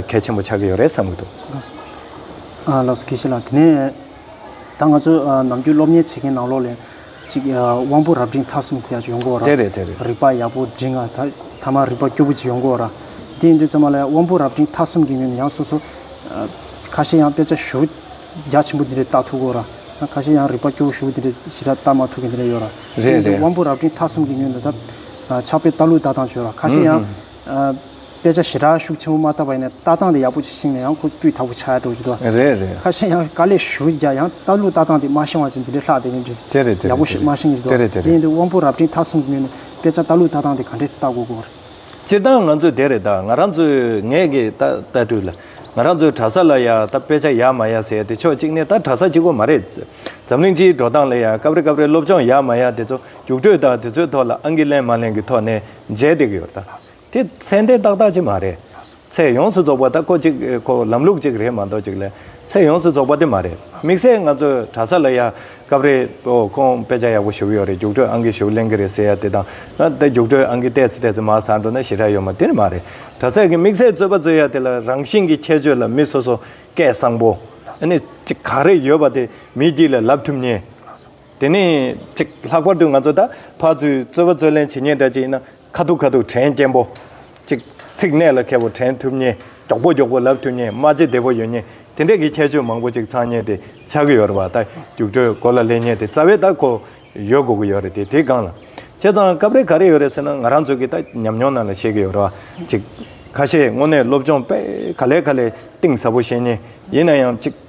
གལ་ཆེན་པོ་ཆགས་ཀྱི་ཡོད་རེད་བསམ་གྱི་འདུག། ལགས་སོ། ལགས་སོ་དགེ་བཤེས་ལགས་དེ་ནས། ད་ང་ཚོས་ནམ་རྒྱུན་སློབ་གཉེར་བྱེད་མཁན་ནང་ལོགས་ལས། ཅིག། དབང་པོ་རབ་འབྲིང་མཐའ་གསུམ་སེལ་བྱེད་ཡོངས་བསྐོར་བ། དེ་རེད་དེ་རེད། རིག་པ་ཡག་པོ་འབྲིང་ང་ཐ་མ་རིག་པ་སྐྱོ་པོ་ཅིག་ཡོངས་བསྐོར་བ། དེ་ཡིན་དུས་ཚང་མ་ལ་དབང་པོ་རབ་འབྲིང་མཐའ་གསུམ་གྱི་ངོས་ནས་ཡང་སོ་སོ། ཁ་ཤས་ཡང་དཔེ་ཆ་ཞུ། རྒྱ་ཆེན་པོ་འདི་འདྲའི་ལྟ་ཐུག་གོ་ར། ཁ་ཤས་ཡང་རིག་པ་སྐྱོ་བོ་ཞུ་འདི་འདྲའི་ཞི་ར་ལྟ་མ་ཐུག་གི་འདི་འདྲ་ཡོད་ར། དེ་ཡིན་དུས་དབང་པོ་རབ་འབྲིང་མཐའ་གསུམ་གྱི་ངོས་ནས་ད། ཕྱག་དཔེ་ལྟ་ལུགས་ལྟ་སྟངས་བྱོས་ར། ཁ་ཤས་ཡང། དཔེ་ཆ་ཞེ་དྲག་ཤུགས་ཆེན་པོ་མ་བཏབ་པ་ཡིན་ན་ལྟ་སྟངས་དེ་ཡག་པོ་ཞིག་ཤེས་ནས་ཡང་ཁོ་སྤུས་དག་པོ་བྱ་ཡག་འགྲོ་གི་འདུག་ཨ། རེད་རེད། ཁ་ཤས་ཡང་དཀའ་ལས་ཞུ་གི་རྒྱ་ཡང་ལྟ་ལུགས་ལྟ་སྟངས་དེ་མ་ཤེས་བ་ཅན་དེ་འདྲས་ལྷག་དེ་ཡིན་དེ་རེད་དེ་རེད་ཡག་པོ་ཞིག་མ་ཤེས་གི་འདུག་ཨ། དེ་རེད་དེ་རེད། དེ་ཡིན་དུས་དབང་པོ་རབ་འབྲིང་ད་གསུང་གི་ངོས་ནས་དཔེ་ཆ་ལྟ་ལུགས་ལྟ་སྟངས་དེ་ག་འདྲས་སུ་ལྟ་དགོས་དགོས་པ་རེད། སྤྱིར་བཏང་ང་ཚོས་དེ་རེད་ད་ང་རང་ཚོས་ངས་གི་ད་ལྟ་དུས་ལ་ང་རང་ཚོའི་གྲྭ་ས་ལ་ཡང་ད་དཔེ་ཆ་ཡག་མ་ཡག་ཟེར་དེ་ཕྱོགས་གཅིག་ནས་ད་གྲྭ་ས་གཅིག་པོ་མ་རེད། འཛམ་གླིང་སྤྱིའི་འགྲོ་སྟངས་ལ་ཡང་སྐབས་རེ་སྐབས་རེ་སློབ་སྦྱོང་ཡག་མ་ཡག་དེ་ཚོ་རྒྱུགས་སྤྲོད་དང་དེ་ཚོའི་ཐོག་ལ་ཨང་གི་ལེན་མ་ལེན་གི་ཐོག་ནས་མཇལ་བསྡད་གི་ཡོད་ད། དེ་ཚད་ལྡན་ཏག་ཏག་ཅིག་མ་རེད། ཚད་ཡོངས་སུ་རྫོགས་པ་ད་ཁོ་ཅིག་ཁོ་ལམ་ལུགས་ཅིག་རེད་མ་གཏོགས་ཅིག་ལས་ཚད་ཡོངས་སུ་རྫོགས་པ་དེ་མ་རེད། དམིགས་བསལ་ང་ཚོའི་གྲྭ་ས་ལ་ཡ། སྐབས་རེ། ཨོ་ཁོང་དཔེ་ཆ་ཡག་པོ་ཞུགས་ཡོད་རེད་རྒྱུགས་སྤྲོད་ཨང་ཀི་ཞུགས་གླེང་གི་རེད་ཟེར་ཡ་དེ་དང། ད་རྒྱུགས་སྤྲོད་ཨང་ཀི་བལྟས་ཚེ་བལྟས་ཚེ་མ་བཟང་འགྲོ་ན་ཞེ་དྲག་ཡོད་མ་དེ་མ་རེད། གྲྭ་སའི་གི་དམིགས་བསལ་རྩོད་པ་རྩོད་ཡ་དེ་ལ་རང་བཞིན་གི་ཁྱད་ཆོས་ལ་མི་སོ་སོ་སྐད་གསང་པོ། ཨ་ནི། ཅིག་ག་རེ་ཡོད་པ་དེ་མི་སྒྱིད་ལ་ལབ་ཐུབ་ཉེན། དེ་ནས་ཅིག་ལྷག་པར་དུ་ང་ཚོ་ད་བར་ཚུལ་རྩོད་པ་རྩོད་ལེན་བྱེད་ཉེན་འདྲ་ཅིག་ན་ཁ་ཐུག་ཁ་ཐུག་དྲན་སྐྱེན་པོ། ཅིག་ཚིག་གནད་ལ་འཁེལ་བོ་དྲན་ཐུབ་ཉེན་མགྱོགས་པོ་མགྱོགས་པོ་ལབ་ཐུབ་ཉེན་སྨྲ་ལྕེ་བདེ་བོ་ཡོད་ཉེན་དེ་འདྲ་གི་ཁྱད་ཆོས་མང་པོ་ཅིག་ཚང་ཉེན་དེ་ཆགས་ཀྱི་ཡོད་རེད་བ་ད་རྒྱུགས་སྤྲོད་གོ་ལ་ལེན་ཉེན་དེ་རྩ་བའི་ད་གོ་ཡོད་དགོས་ཀྱི་ཡོད་རེད་དེ་དེ་གང་ལ་བྱས་ཙང་སྐབས་རེ་ག་རེ་ཡོད་རེད་ཟེར་ན་ང་རང་ཚོ་གི་ད་ཉམས་མྱོང་རྣམས་ལ་ཤེས་ཀྱི་ཡོད་རེད་བ་ཅིག་ཁ་ཤས་དངོས་གནས་སློབ་སྦྱོང་དཔེ་ག་ལས་ག་ལས་གཏིང་ཟབ་པོ་ཤེས་ཉེན་ཡིན་ན་ཡང་ཅིག།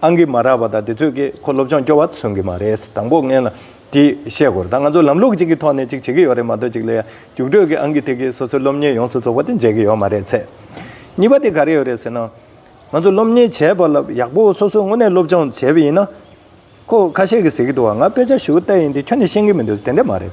ཨང་ཀི་མ་རག་པ་དང་དེ་ཚོད་ཀྱིས་ཁོ་སློབ་སྦྱོང་སྐྱོ་བ་མཚོན་གི་མ་རེད་དང་པོ་ངས་ལ་དེ་བཤད་དགོས་རེད་ད་ང་ཚོ་ལམ་ལུགས་གཅིག་གི་ཐོག་ནས་གཅིག་བྱེད་ཀྱི་ཡོད་རེད་མ་གཏོགས་གཅིག་ལ་ཡ་རྒྱུགས་སྤྲོད་ཀྱི་ཨང་ཀི་དེ་གིས་སོ་སོའི་སློབ་གཉེར་ཡོངས་སུ་རྫོགས་པ་དེ་མཇལ་གྱི་ཡོད་མ་རེད་ཚེ་གཉིས་པ་དེ་ག་རེ་ཡོད་རེད་ཟེར་ན། ང་ཚོ་སློབ་གཉེར་བྱས་པ་ལ་ཡག་པོ་སོ་སོའི་ངོ་ནས་སློབ་སྦྱོང་བྱས་པ་ཡིན་ན། ཁོ་ཁ་ཤས་ཀྱིས་ཟེར་གྱི་འདུག་བ་ང་དཔེ་ཆ་ཞུ་གཏད་ཡིན་དེ་ཁྱོད་ནས་ཤེས་ཀྱི་མི་འདུག་དེ་འདྲ་མ་རེད།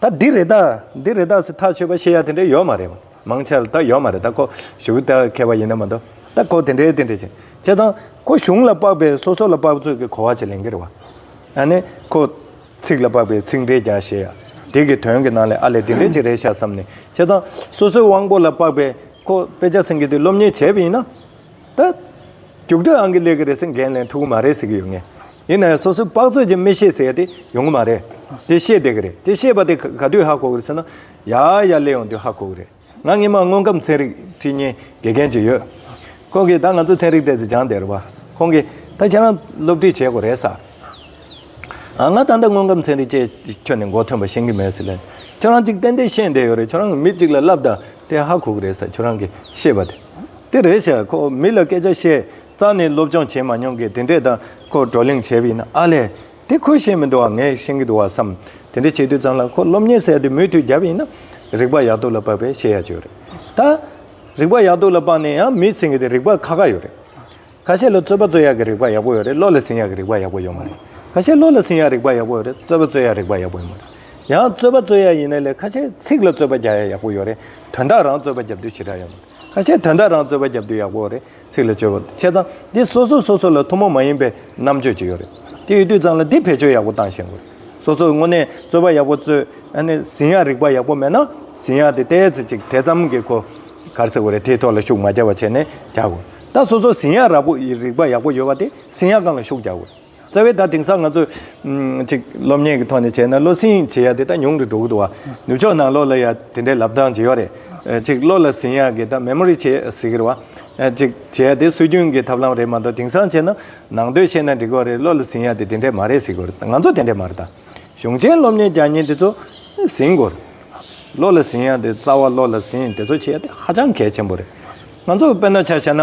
ད་འདི་རེ་ད་འདི་རེ་ད་སི་ཐག་ཆོད་པ་བཤད་ཡ་དེ་འདྲ་ཡོད་མ་རེད། མང་ཆེ་བ་ད་ཡོད་མ་རེད་ད་ཁོ་གཞུག་ད་མཁས་པ་ཡིན་ན་མ་གཏོགས་ད་ཁོ་དེ་འདྲའི་དེ་འདྲའི་བྱེད་བྱས་ཙང་ཁོ་གཞུང་ལ་དཔག་པའི་སོ་སོ་ལ་དཔག་ཚོད་ཀྱི་གོ་བ་བྱེད་ལེན་གི་རེད་བ། ཨ་ནི་ཁོ་ཚིག་ལ་དཔག་པའི་ཚིག་འགྲེལ་རྒྱག་བྱེད་ཡ་དེ་གི་དོན་གི་ནང་ལས་ཨ་ལས་དེ་འདྲའི་ཅིག་རེད་ཤག་བསམ་ནས་བྱས་ཙང་སོ་སོའི་དབང་པོ་ལ་དཔག་པའི་ཁོ་དཔེ་ཆ་སེང་གེ་དེ་སློབ་གཉེར་བྱས་པ་ཡིན་ན། ད། རྒྱུགས་སྤྲོད་ཨང་ཀི་ལས་ཀི་རེད་ཟེར་འགན་ལེན་ཐུབ་གི་མ་རེད་ཟེར་གི་ཡོད་ངེས། ཡིན་ནའི་སོ་སོའི་དཔག་ཚོད་ཀྱིས་མི་ཤེས་ཟེར་ཏེ་ཡོང་གི་མ་རེད། དེ་ཤེས་བསྡད་གི་རེད་དེ་ཤེས་པ་དེ་ག་དུས་ཧ་གོ་གི་རེད་ཟེར་ན། ཡ་ཡ་སླེ་ཡོང་དུས་ཧ་གོ་གི་རེད། ང་སྔོན་མ་དངོས་ཁམས་ཚན་རིག་ཁྲིད་བརྙན་དགེ་རྒན་ཅིག་ཡོད། ཁོང་གིས་ད་ང་ཚོ་ཚན་རིག་ལྟས་ཚེ་སྦྱང་བསྡད་རེད་བ། ཁོང་གིས། ད་ཁྱེད་རང་སློབ་ཁྲིད་བྱེད་དགོས་རེད་ས། ཨ་ང་ད་ལྟ་དངོས་ཁམས་ཚན་རིག་ཅེས་ཁྱོན་ནས་མགོ་ཐོན་པ་ཤེས་ཀི་མེད་ཟེར། ཁྱོད་རང་ཅིག་ཏན་ཏན་ཤེས་བསྡད་ཡོད་རེད་ཁྱོད་རང་གི་མི་གཅིག་ལ་བསླབ་དང་དེ་ཧ་གོ་གི་རེད་ས་ཁྱོད་རང་གིས་ཤེས་པ་དེ། དེ་རེད་ཤག་ཁོ་མི་ལ་སྐད་ཆ་བཤད་རྩ་ནས་སློབ་སྦྱོང་བྱེད་མ་མྱོང་གི་དེ་འདྲས་དང་ཁོ་བགྲོ་གླེང་བྱས་པ་ཡིན་ན་ཨ་ལས་དེ་ཁོས་ཤེས་མི་འདུག་བ་ངས་ཤེས་ཀྱི་འདུག་བ་བསམ། དེ་འདྲས་བྱེད་དུས་ཙམ་ལ་ཁོ་སློབ་གཉེར་ཟེར་དེ་མུས་མཐུད་བརྒྱབ་ཡིན་ན། རིག་པ་ཡག་ཏུ་ལ་བབས་པས་ཤེས་ཡ་བྱོས་རེད་ད། རིག་པ་ཡག་ཏུ་ལ་བབས་ནས་ཡང་མི་ཟིན་གི་དེ་རིག་པ་ཁ་ཁ་ཡོད་རེད། ཁ་ཤས་ལ་རྩོད་པ་རྩོད་ཡག་གི་རིག་པ་ཡག་པོ་ཡོད་རེད་བློ་ལ་ཟིན་ཡག་གི་རིག་པ་ཡག་པོ་ཡོད་མ་རེད། ཁ་ཤས་བློ་ལ་ཟིན་ཡག་རིག་པ་ཡག་པོ་ཡོད་རེད་རྩོད་པ་རྩོད་ཡག་རིག་པ་ཡག་པོ་ཡོད་མ་རེད། ཡང་རྩོད་པ་རྩོད་ཡག་ཡིན་ན་ལས་ཁ་ཤས་ཚིག་ལ་རྩོད་པ་རྒྱག་ཡག་ཡག་པོ་ཡོད་རེད་དོན་དག་རང་རྩོད་པ་རྒྱབ་དུས་ཞེ་དྲག་ཡོད་མ་རེད། ཁ་ཆེ་དོན་དག་རང་རྩོད་པ་རྒྱབ་དུས་ཡག་པོ་རེད་ཚིག་ལ་བཅོལ་བ་དང་བྱས་ཙང་འདི་སོ་སོ་སོ་སོ་ལ་ཐུ་མོ་མ་ཡིན་པའི་རྣམ་དཔྱོད་ཅིག་ཡོད་རེད་དེ་ཡོད་དུས་ཙང་ལ་འདི་བེད་སྤྱོད་ཡག་པོ་བཏང་ཤེས་དགོས་རེད་སོ་སོ་དངོས་གནས་རྩོད་པ་ཡག་པོ་རྩོད་ཨ་ནི་ཟིན་ཡག་རིག་པ་ཡག་པོ་མེད་ན་ཟིན་ཡག་དེ་ལྟའི་ཚེ་ཅིག་དེ་ཙམ་གྱི་གོ་གར་ཟེར་དགོས་རེད་དེའི་ཐོག་ལ་ཤུགས་མ་རྒྱག་པ་བྱས་ནས་རྒྱག་དགོས་ད་སོ་སོ་ཟིན་ཡག་རག་པོ་ཡི་རིག་པ་ཡག་པོ་ཡོད་པ་དེ་ཟིན་ཡག་གང་ལ་ཤུགས་རྒྱག་དགོས་རེད། རྩ་བའི་ད་དེང་སང་ང་ཚོ། ཅིག་སློབ་གཉེར་གྱི་ཐོག་ནས་བྱས་ན་བློ་སེང་བྱེད་ཡག་དེ་ད་ཉུང་དུ་འགྲོ་གི་འདུག་བ། ནུབ་ཕྱོགས་ནང་ལོགས་ལ་ཡང་དེ་འདྲའི་ལབ་སྟངས་ཇི་ཡོག་རེད། ཅིག་བློ་ལ་ཟིན་ཡག་གི་ད Memory བྱེད་ཟེར་གིར་བ། ཅིག་བྱེད་ཡག་དེ་སྲོལ་རྒྱུན་གྱི་ཐབས་ལམ་རེད་མ་གཏོགས་དེང་སང་བྱས་ན། ནང་དོན་ཤེས་ན་འགྲིག་གོ་རེད་བློ་ལ་ཟིན་ཡག་དེ་དེ་འདྲའི་མ་རེད་ཟེར་གིར་ང་ཚོ་དེ་འདྲའི་མ་རེད་ད། གཞུང་ཆེན་སློབ་གཉེར་རྒྱག་ཉིན་དེ་ཚོ། ཟིན་གིར། བློ་ལ་ཟིན་ཡག་དེ་རྩ་བ་བློ་ལ་ཟིན་དེ་ཚོ་བྱེད་ཡག་དེ་ཧ་ཅང་གལ་ཆེན་པོ་རེད། ང་ཚོ་དཔེར་ན་ཆ་བྱས་ན།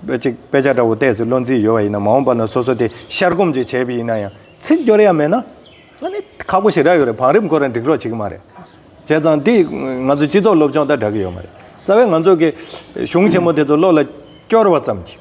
གཅིག་དཔེ་ཆ་འདྲ་བོ་བལྟས་ཚེ་བློ་འཛིན་ཡོད་པ་ཡིན་ན་མ་འོངས་པ་ན་སོ་སོ་དེ་ཤར་སྒོམ་ཅིག་བྱས་པ་ཡིན་ན་ཡང་ཚིག་སྦྱོར་ཡ་མེད་ན། ང་ནི་ཁག་པོ་ཞིག་རག་ཡོད་རེད་བང་རིམ་ཁོ་རང་འགྲིག་རོགས་བྱེད་ཀྱི་མ་རེད། བྱས་ཙང་དེས་ང་ཚོའི་སྤྱི་ཚོགས་སློབ་སྦྱོང་དང་འདྲ་གི་ཡོད་མ་རེད། རྩ་བའི་ང་ཚོ་གི་གཞུང་ཆེན་མོ་དེ་ཚོ་བློ་ལ་སྐྱོར་བ་ཙམ་གྱིས།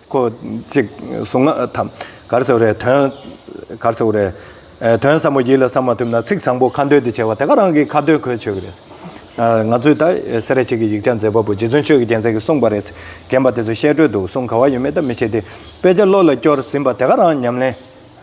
ཁོ་གཅིག་གཟུངས་སྔགས་དམ་གར་ཟེར་བ་རེད་དོན། གར་ཟེར་བ་རེད། དོན་ཟབ་མོ་ཡིད་ལ་བསམ་མ་ཐུབ་ན་ཚིག་བཟང་པོ་ཁ་འདོན་དེ་བྱས་པ་དེ་ག་རང་གི་ཁ་བརྡོལ་གོལ་ཆོད་གི་རེད། ང་ཚོས་ད་སེ་ར་བྱེས་ཀྱི་ཡིག་ཆ་མཛེས་པ་པོ་རྗེ་བཙུན་ཆོས་ཀྱི་རྒྱལ་མཚན་གྱིས་གསུངས་པ་རེད། རྒན་པ་དེ་ཚོ་བཤད་སྒྲོས་འདུག་གསུང་ག་བ་ཡོད་མེད་ལྟ་མི་བྱེད་དེ་དཔེ་ཆ་བློ་ལ་སྐྱོར་ཟིན་པ་དེ་ག་རང་ཉམས་ལེན།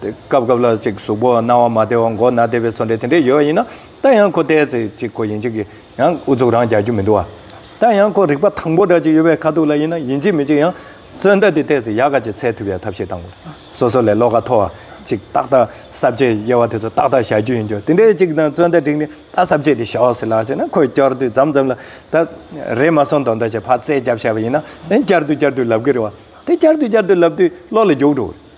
སྐབས་སྐབས་ལ་ཅིག་གཟུགས་པོ་སྣང་བ་མ་བདེ་བ་མགོ་སྣ་བདེ་བའི་སོ་འདྲེ་དེ་འདྲས་ཡོད་ཡིན་ན་ད་ཡང་ཁོ་བལྟས་ཚེ་ཅིག་ཁོ་ཡིན་གཅིག་གི་ཡང་ཨུ་ཚུགས་རང་རྒྱག་རྒྱུ་མི་འདུག་ཨ། ད་ཡང་ཁོ་རིག་པ་དང་པོ་འདྲ་ཅིག་ཡོད་པའི་ཁ་ཐུག་ལ་ཡིན་ན་ཡིན་གཅིག་མིན་གཅིག་ཡང་རྩོད་ཟླ་དེ་བལྟས་ཚེ་ཡག་ག་ཅིག་ཚད་ཐུབ་ཡ་ཐབས་ཤེས་དང་པོ་སོ་སོ་ལས་བློ་ཁ་མཐོ་བ་ཅིག་ཏག་ཏག་གསར་བརྗེ་དབྱེ་བ་དེ་ཚོ་ཏག་ཏག་བཞག་རྒྱུ་ཡིན་རྒྱུ་དེ་འདྲས་ཅིག་དང་རྩོད་ཟླ་བསྒྲིགས་ནས་ད་གསར་བརྗེ་དེ་ཞོག་ཟེར་ལགས་ཟེར་ན་ཁོས་བསྐྱར་དུས་འཛམ་འཛམ་ལ་ད་རེས་མ་སོང་དོག་འདོད་ཆེ་བག་རྩེ་རྒྱབ་བྱས་པ་ཡིན་ན་ཡང་བསྐྱར་དུ་བསྐྱར་དུས་ལབ་གི་རེད་བ་དེ་བསྐྱར་དུས་བསྐྱར་དུས་ལབ་དུས་བློ་ལ་རྒྱུགས་འགྲོ་གི་རེད།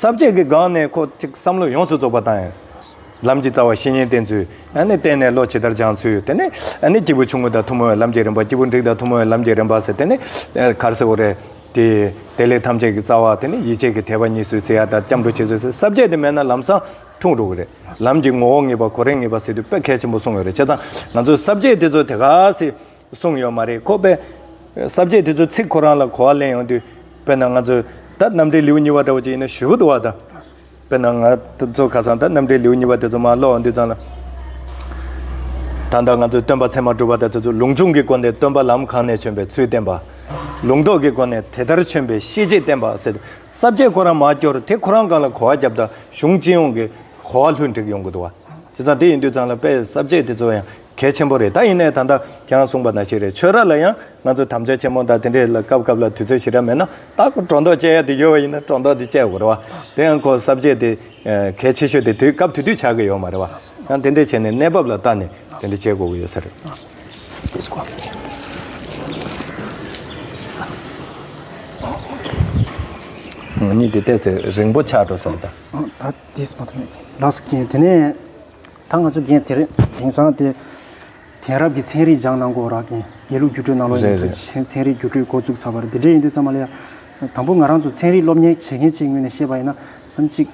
ཟབ་ཁྱད་ཀྱི་སྒང་ནས་ཁོ་ཐིག་བསམ་བློ་ཡོངས་སུ་རྫོགས་པ་དང། ལམ་གྱི་རྩ་བ་བཤེས་གཉེན་བསྟེན་ཚུལ། བསྟེན་ནས་བློ་ཇི་ལྟར་སྦྱང་ཚུལ། དེ་ནས་སྐྱེས་བུ་ཆུང་ངུ་དང་ཐུན་མོང་བའི་ལམ་གྱི་རིམ་པ་སྐྱེས་བུ་འགྲིག་དང་ཐུན་མོང་བའི་ལམ་གྱི་རིམ་པ་ཟེར་དེ་ནི། གར་སེའོ་རེ། དེ་ལས་ཐམས་ཅད་ཀྱི་རྩ་བ་དེ་ནི་ཡིད་བྱེད་ཀྱི་དད་པ་གཉིས་སུ་ཟེར་ཡ་དང་སྐྱབས་འགྲོ་བྱེད་ཚུལ་ཟེར་ཟབ་ཁྱད་དེ་མེད་ན་ལམ་བཟང་འཁྲུངས་རུང་རེད། ལམ་གྱི་ངོ་བོ་ངེས་པ་གོ་རེ་ངེས་པ་ཟེར་དུས་དཔེ་གལ་ཆེན་པོ་གསུངས་ཡོད་རེད་བྱས་ཙང་ང་ཚོས་ཟབ་ཁྱད་དེ་ཚོ་དེ་ག་ཟེ། གསུངས་ཡོད་མ་རེད་ཁོ་པས། གསར་བརྗེ་དེ་ཚོའི་ཚིག་ཁོ་རང་ལ་གོ་བ་ལེན་ཡོང་དུས། དཔེར་ན་ང་ཚོས་ད་རྣམ་འགྲེལ་ལེའུ་གཉིས་པ་འདྲ་བོ་ཅིག་ཡིན་ན་ཞུ་གི་འདུག་བ་དང། དཔེར་ན་ང་ཚོ་ཁ་སང་ད་རྣམ་འགྲེལ་ལེའུ་གཉིས་པ་དེ་ཚོ་མ་ཀློག་འོང་དུས་ཙང་ལ། ད་ལྟ་ང་ཚོས་སྟོན་པ་ཚད་མ་གྲུབ་པ་དང་དེ་ཚོས་ལུང་ཆུང་གི་སྒོ་ནས་སྟོན་པ་ལམ་གང་ནས་བྱོན་པའི་ཚུལ་བསྟན་པ། ལུང་རྟོགས་ཀྱི་སྒོ་ནས་དེ་ལྟར་བྱོན་པའི་ཤེས་བྱེད་བསྟན་པ་ཟེར་དུས་གསར་བརྗེ་ཁོ་རང་མ་སྐྱོར་དེ་ཁོ་རང་གང་ལ་གོ་བ་བརྒྱབ་དང་གཞུང་སྤྱི་ཡོངས་ཀྱི་གོ་བ་ལྷུན་འགྲིག་ཡོང་གི་འདུག་བ། དེ་ཙང་དེ་ཡིན་དུས་ཙང་ལ་དཔེ་གསར་བརྗེ་དེ་ཚོ་ཡང། གལ་ཆེན་པོ་རེད་ད་ཡིན་ནས་ད་ལྟ་ཁྱེད་རང་གསུངས་པ་དང་བཞིན་རེད་ཆོས་ར་ལ་ཡང་ང་ཚོ་དམ་བཅའ་ཆེན་མོ་དང་དེ་འདྲའི་ལ་སྐབས་སྐབས་ལ་དུས་ཚོད་ཞིག་ར་མེད་ན་ད་ཁོ་སྒྲོ་འདོགས་བཅད་ཡ་དེ་ཡོད་བ་ཡིན་ན་སྒྲོ་འདོགས་དེ་བཅད་དགོས་རེད་བ་དེ་ཡང་ཁོ་གསབ་བྱེད་དེ་གལ་ཆེ་ཤོས་དེ་དུས་སྐབས་དུས་དུས་བྱ་གི་ཡོད་མ་རེད་བ་ཡང་དེ་འདྲས་བྱས་ནས་གནས་བབ་ལ་བལྟ་ནས་དེ་འདྲས་བྱེད་དགོས་ཀྱི་ཡོད་ས་རེད། ང་གཉིས་དེ་བལྟས་ཚེ་རིང་པོ་ཆགས་འགྲོ་ས་རེད་ད། ད་དེས་མ་ཐག་ལགས་སོ་ཁྱེད་དེ་ནས། ད་ང་ཚོ་རྒན་དེ་རེད་དེང་སང་དེ། དེང་རབས་ཀྱི་ཚན་རིག་སྦྱང་གནང་གོ་རག་གིན་དགེ་ལུགས་སྒྱུ་སྤྲོད་གནང་ལོ་ཡིན་རེད་རེད། ཚན་རིག་སྒྱུ་སྤྲོད་འགོ་བཙུགས་ཚར་བ་རེད་དེ་འདྲས་ཡིན་དུས་ཙང་མ་ལེ་ཡ། དང་པོ་ང་རང་ཚོ་ཚན་རིག་སློབ་གཉེར་བྱེད་མཁན་གཅིག་ངོས་ནས་བཤད་པ་ཡིན་ན། གཅིག།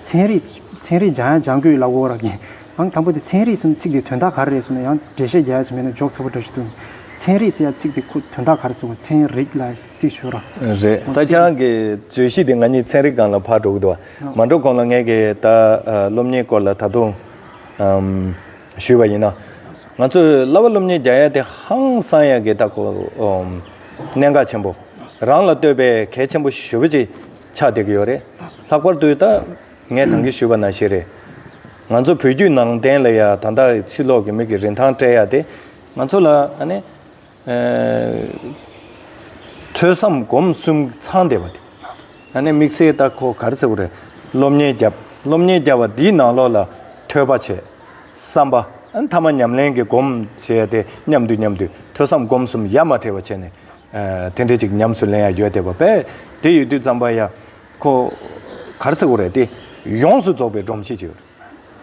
ཚན་རིག་ཚན་རིག་སྦྱང་ཡང་སྦྱང་དགོས་ཡོད་ལབ་གོ་རག་གིན། ཨང་དང་པོ་དེ་ཚན་རིག་ཟེར་ནི་ཚིག་དེ་དོན་དག་ག་རེ་རེད་ཟེར་ན་ཡང་འགྲེལ་བཤད་རྒྱ་ཡོད་ཚོད་མེད་ན་འཇོག་ཚ་པོ་འདྲ་ཞིག་འདུག། ཚན་རིག་ཟེར་ཡ་ཚིག་དེ་ཁོ་དོན་དག་ག་རེ་ཟེར་བ་ཚན་རིག་ལ་ཚིག་ཞུ་ར། རེད། ད་ཁྱེད་རང་གི་བརྗོད་གཞི་དེ་ང་གཉིས་ཚན་རིག་སྒང་ལ་ཕར་འགྲོ་གི་འདུག་བ། མ་འགྲོ་གོང་ལ་ངས་ཀྱི་ད་སློབ་གཉེར་སྐོར་ལ་ད་དུང་ཞུས་པ་ཡིན་ན། ང་ཚོས་གླ་བ་སློབ་གཉེར་རྒྱག་ཡ་དེ་ཧང་སང་ཡ་གི་ད་གོ། གནད་འགག་ཆེན་པོ། རང་ལ་ལྟོས་པའི་གལ་ཆེན་པོ་ཞིག་ཞུ་བ་ཅིག་ཆགས་བསྡད་ཀྱི་ཡོད་རེད། ལྷག་པར་དུ་ད་ངས་དང་གི་ཞུས་པ་ན་ཞིག་རེད། ང་ཚོ་བོད་བརྒྱུད་ནང་བསྟན་ལ་ཡ་ད་ད་ཕྱི་ལོག་གི་མིག་གི་རིན་ཐང་སྤྲད་ཡ་དེ་ང་ཚོ་ལ་ཨ་ནི། ཐོས་བསམ་སྒོམ་གསུམ་ཚང་བདེ་བ་དེ། ད་ནི་དམིགས་བསལ་རྟགས་ཁོ་གར་ཟེར་བ་རེད། སློབ་གཉེར་བརྒྱབ། སློབ་གཉེར་བརྒྱབ་བ་འདིས་ནང་ལོག་ལ་ཐོས་པ་བྱས། བསམ་པ། མཐའ་མ་ཉམས་ལེན་གྱི་སྒོམ་བྱས་ཏེ་མཉམ་དུ་མཉམ་དུ་ཐོས་བསམ་སྒོམ་གསུམ་ཡ་མ་བྲལ་བ་བྱས་ནས། དེ་འདྲའི་ཅིག་ཉམས་སུ་ལེན་ཡ་ཡོད་བསྡད་པ་པས་དེ་ཡོད་དུས་ཙམ་པ་ཡ། ཁོ་གར་ཟེར་བ་རེད་དེ། ཡོངས་སུ་རྫོགས་པའི་སྒྲོམ་གཞི་ཅིག་རེད།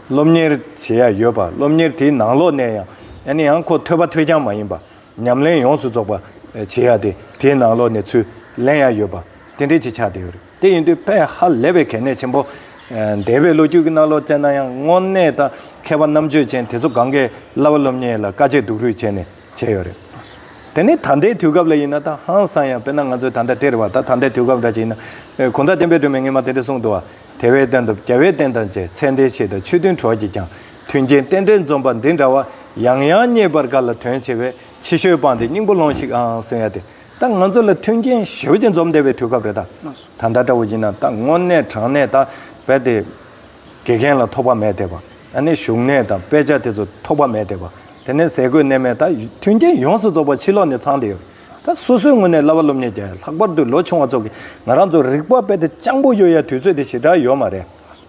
སློབ་གཉེར་བྱེད་ཡ་ཡོད་པ་སློབ་གཉེར་དེའི་ནང་ལོག་ནས་ཡང་ཡང་ནས་ཡང་ཁོ་ཐོས་པ་ཐོས་རྐྱང་མ་ཡིན་པ་ཉམས་ལེན་ཡོངས་སུ་རྫོགས་པ་བྱེད་ཡ་དེ་དེའི་ནང་ལོག་ནས་ཚུར་ལེན་ཡ་ཡོད་པ་དེ་འདྲའི་ཆེད་ཆགས་བསྡད་ཡོད་རེད་དེ་ཡིན་དུས་ཕས་ཧ་ལས་པའི་གལ་གནད་ཆེན་པོ། འདས་པའི་ལོ་རྒྱུས་ཀྱི་ནང་ལོག་བཙལ་ན་ཡང་དངོས་གནས་ད་མཁས་པ་རྣམ་དཔྱོད་ཅན་དེ་ཚོ་གང་གཱའི་བླ་བ་སློབ་གཉེར་ལ་དཀའ་སྤྱད་སྡུག་རུས་བྱས་ནས་བྱས་ཡོད་རེད་དེ་ནི་ད་ལྟའི་དུས་སྐབས་ལ་ཡིན་ན་ད་ཧང་སང་ཡང་དཔེར་ན་ང་ཚོའི་ད་ལྟ་སྟེར་བ་ད་ད་ལྟའི་དུས་སྐབས་འདྲ་ཞིག་ཡིན་ན་གོང་ད་བསྟན་པའི་སྒྲོན་མེ་ངེད་མ་དེ་འདྲས་གསུངས་འདུག་བ་དེ་བས་བསྟན་དང་རྒྱལ་བས་བསྟན་དང་བཅས་མཚན་ལྡན་བྱེད་དང་ཆོས་མཐུན་གྲོགས་ཀྱིས་ཀྱང་མཐུན་རྐྱེན་རྟེན་འབྲེལ་འཛོམས་པ་འདི་འདྲ་བ་ཡང་ཡང་རྙེད་པར་དགའ་ལ་དོན་ཆེ་བས་ཕྱི་བཤོལ་སྤངས་ཏེ་སྙིང་པོ་ལོང་ཞིག་ཨང་གསུང་ཡ་དེ་ད་ང་ཚོ་ལ་མཐུན་རྐྱེན་ཞེའུ་ཅན་འཛོམས་བསྡད་པའི་དུས་སྐབས་རེད་ད། ད་ལྟ་འདྲ་བོ་ཡིན་ན་ད་དངོས་གནས་དྲང་གནས་ད་བས་དེ། དགེ་རྒན་ལ་ཐོགས་པ་མེད་བསྡད་པ་ཨ་ནི་བཞུགས་གནས་དང་དཔེ་ཆ་དེ་ཚོ་ཐོགས་པ་མེད་བསྡད་པ་དེ་ནས་ཟས་གོས་གནས་མལ་ད་མཐུན་རྐྱེན་ཡོངས་སུ་རྫོགས་པ་ཕྱི་ལོགས་ནས་ཚང་བསྡད་ཡོད་རེད། ད་སོ་སོའི་ངོས་ནས་གླ་བ་སློབ་གཉེར་བརྒྱ་ཡ་ལྷག་པར་དུ་ལོ་ཆུང་བ་ཚོ་གིས་ང་རང་ཚོར་རིག་པ་དཔེ་དེབ་སྤྱང་པོ་ཡོད་ཡ་དུས་ཚོད་དེ་ཞེ་དྲག་ཡོད་མ་རེད།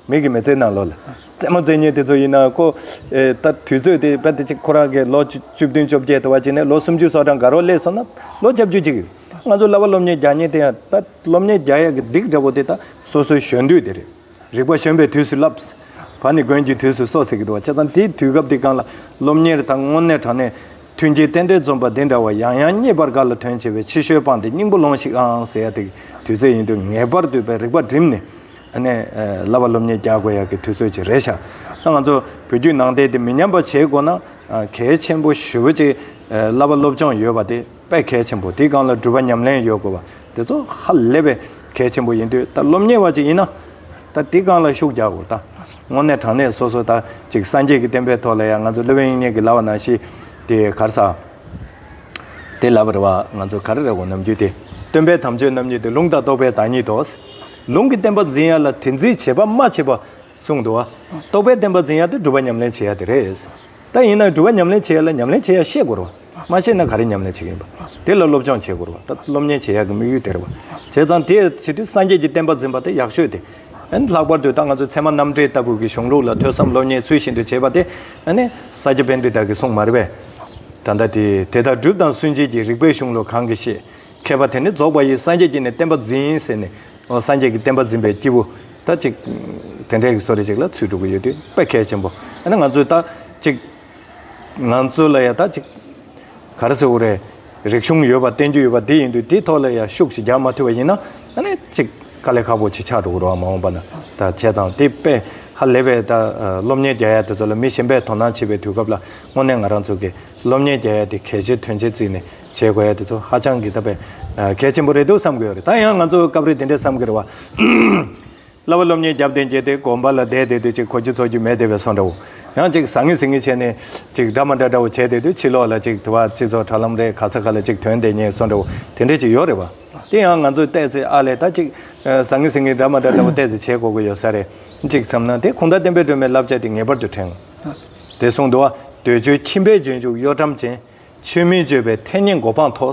མིག་གིས་མི་བཙལ་ན་ལོ་ལ་བཙལ་མོ་བཙལ་ཉེན་དེ་ཚོ་ཡིན་ན་ཁོ། ད་དུས་ཚོད་དེ་དཔེ་དེབ་ཅིག་ཁོ་རང་གིས་ལོ་བཅུ་བདུན་བཅོ་བརྒྱད་དུ་བ་བྱས་ནས་ལོ་སུམ་ཅུ་སོ་གྲངས་འགའ་རོགས་སླེབས་སོང་ན་ལོ་བརྒྱ་བཅུ་གཅིག། ང་ཚོ་གླ་བ་སློབ་གཉེར་བརྒྱ་གཉིས་དེ་ཡང་ད་སློབ་གཉེར་བརྒྱ་ཡ་གི་སྡིག་འདྲ་བོ་དེ་ད་སོ་སོའི་གཞོན་དུས་དེ་རེད། རིག་པ་བྱོན་པའི་དུས་སུ་བསླབས། བ་ནི་དགོན་གྱི་དུས་སུ་སོགས་ཟེར་གྱི་འདུག་བ་ཆ་ཚང་དེའི་དུས་སྐབས་དེ་གང་ལ་སློབ་གཉེར་དང་སྔོན་གནས་དྲང་གནས། མཐུན་རྐྱེན་རྟེན་འབྲེལ་འཛོམས་པ་འདི་འདྲ་བ་ཡང་ཡང་རྙེད་པར་ག་ལ་དོན་ཆེ་བས་ཕྱི་བཤོལ་སྤངས་ཏེ་སྙིང་པོ་ལོངས་ཤིག་ཨང་ཟེར་ཡ་དེ་གི་དུས་ཚོད་ཡིན་དུས་ངེས་པར་དུ་བའི་རིག་པ་བསྒྲིམས་ནས། ནས། བསླབ་པ་སློབ་གཉེར་རྒྱག་དགོས་ཡག་གི་དུས་ཚོད་ཅིག་རེད་ཤག་ང་ཚོ་བོད་བརྒྱུད་ནང་བསྟན་དེ་མི་ཉམས་པ་བྱེད་དགོས་ན། གལ་ཆེན་པོ་ཞུ་བ་གཅིག། བསླབ་པ་སློབ་སྦྱོང་ཡོད་པ་དེ། པས་གལ་ཆེན་པོ་དེའི་སྒང་ལ་འགྲུལ་པ་ཉམས་ལེན་ཡོད་དགོས་པ་དེ་ཚོ་ཧ་ལས་པའི་གལ་ཆེན་པོ་ཡིན་དུས་ད་སློབ་གཉེར་བ་ཅིག་ཡིན་ན། ད་དེའི་སྒང་ལ་ཤུགས་རྒྱག་དགོས་ད། དངོས་གནས་དྲང་གནས་སོ་སོ་ད་ཅིག་སངས་རྒྱས་ཀྱི་བསྟན་པའི་ཐོག་ལ་ཡང་ང་ཚོ་སློབ་དཔོན་དབྱིག་གཉེན་གྱི་ལྭ་བ་ནང་བཞིན་དེ་གར་ས། དེ་ལྭ་བ་རེ་བ་ང་ཚོ་གར་རེ་བ་ནམ་རྒྱུན་དེ་སྟོན་པའི་དམ་ཆོས་རྣམ་གཉིས་དེ་ལུང་དང་རྟོགས་པའི་བདག་ཉིད་དོ། ལུང་གི་བསྟན་པ་འཛིན་ཡ་ལ་དེ་འཛིན་བྱེད་པ་མ་བྱེད་པ་གསུངས་འདུག་རྟོགས་པའི་བསྟན་པ་འཛིན་ཡ་དེ་སྒྲུབ་པ་ཉམས་ལེན་བྱེད་ཡ་དེ་རེད། ད་ཡིན་ན་སྒྲུབ་པ་ཉམས་ལེན་བྱེད་ཡ་ལ་ཉམས་ལེན་བྱེད་ཡ་ཤེས་དགོས་རོ། མ་བྱས་ན་ག་རེ་ཉམས་ལེན་བྱེད་ཀྱི་ཡིན་པ། དེ་ལ་སློབ་སྦྱོང་བྱེད་དགོས་པ། ད་སློབ་གཉེར་བྱེད་ཡག་གི་དམིགས་ཡུལ་དེ་རེད་བ། བྱས་ཙང་དེ་བྱེད་དུས་སངས་རྒྱས་ཀྱི་བསྟན་པ་འཛིན་པ་དེ་ཡག་ཤོས་དེ། ལྷག་པར་དུ་ད་ང་ཚོའི་ཚད་མ་རྣམ་འགྲེལ་ལྟ་བུ་གི་གཞུང་ལུགས་ལ་ཐོས་བསམ་སློབ་གཉེར་ཚུལ་བཞིན་དུ་བྱེད་པ་དེ། ས་སྐྱ་བན་དེ་དག་གིས་གསུངས་མ་རེད་པས། ད་ལྟ་དེ་དེ་དག་སྒྲུབ་དང་སུན་འབྱིན་གྱི་རིགས་པའི་གཞུང་ལུགས་གང་གིས་ཤེས། མཁས་པ་དེ་ནི་རྫོགས་པ་ཡི་སངས་རྒྱས་ཀྱིས་ནི་བསྟན་པ་འཛིན་ཟེར་ནས། སངས་རྒྱས་ཀྱི་བསྟན་པ་འཛིན་པའི་སྐྱེས་བུ། ད་ཅིག། དེ་འདྲའི་གི་སོ་རེ་ཅིག་ལ་ཚུལ་སྒྲུབ་ཀྱི་ཡོད་དུས་དཔེ་གལ་ཆེན་པོ། ང་ཚོས་ད་ཅིག། ང་ཚོ་ལ་ཡང་ད་ཅིག་ག་རེ་ཟེར་རེད། རིག་གཞུང་ཡོད་པ་བསྟན་རྒྱུ་ཡོད་པ་འདི་ཡིན་དུས་དེའི་ཐོག་ལ་ཡང་ཤུགས་ཤིག་རྒྱག་མ་ཐུབ་པ་ཡིན་ན་ད་ནི་ཅིག་དཀའ་ལས་ཁག་པོ་ཆེ་ཆགས་འགྲོ་གི་རོགས་མ་འོངས་པ་ན་ད་བྱས་ཙང་དེ་པས་ཧ་ལས་པའི་ད་སློབ་གཉེར་རྒྱ་ཡག་དེ་ཚོ་ལ་མི་གཞན་པས་དོ་སྣང་བྱེད་པའི་དུས་སྐབས་ལ་དངོས་གནས་ང་རང་ཚོ་གི་སློབ་གཉེར་རྒྱ་ཡག་དེ་གལ་ཆེ་དོན་ཆེ་བརྩིས་ནས་བྱེད་དགོས་ཡ་དེ་ཚོ་ཧ་ཅང་གི་ད་པས་གལ་ཆེན་པོ་རེད་འདུག་བསམ་གི་ཡོད་རེད་ད་ཡང་ང་ཚོ་སྐབས་རེ་དེ་འདྲས་བསམ་གི་རེད་བ། གླ་བ་སློབ་གཉེར་རྒྱབ་རྟེན་བྱས་ཏེ་དགོན་པ་ལ་བསྡད་དེ་དུས་ཅིག་ཁོ་ཆུ་འཚོ་རྒྱུ་མེད་དེ་བས་སོང་འདྲ་བོ། ཡང་ཅིག་ཟ་ངེ་ཟིང་ངེ་བྱས་ནས། ཅིག་འདྲ་མ་འདྲ་འདྲ་བོ་བྱས་དེ་དུས་ཕྱི་ལོགས་ལ་ཅིག་དུ་བ་སྤྱི་ཚོགས་དྲ་ལམ་རེད་ག་ས་ག་ལ་ཅིག་དོན་དེ་རྙེད་སོང་འདྲ་བོ་དེ་འདྲས་ཅིག་ཡོད་རེད་བ། དེ་ཡང་ང་ཚོས་བལྟས་ཚེ་ཨ་ལས་ད་ཅིག། ཟ་ངེ་ཟིང་ངེ་འདྲ་མ་འདྲ་འདྲ་བོ་བལྟས་ཚེ་བྱེད་དགོས་ཀྱི་ཡོད་ས་རེད། ཅིག་བསམ་ན་དེ་གུང་ཐང་བསྟན་པའི་སྒྲོན་མེ་བསླབ་བྱ་དེ་ངེས་པར་དུ་དྲན་དགོས། དེ་གསུངས་འདུག་བ། འདོད་འཇོའི་ཁྱིམ་པའི་འབྱོན་འཇུག་གཡོ་ཁྲམ་ཅན། ཆོས་མིན་སྤྱོད་པའི་མཐས་ཉེན་མགོ་འཕང་མཐོ།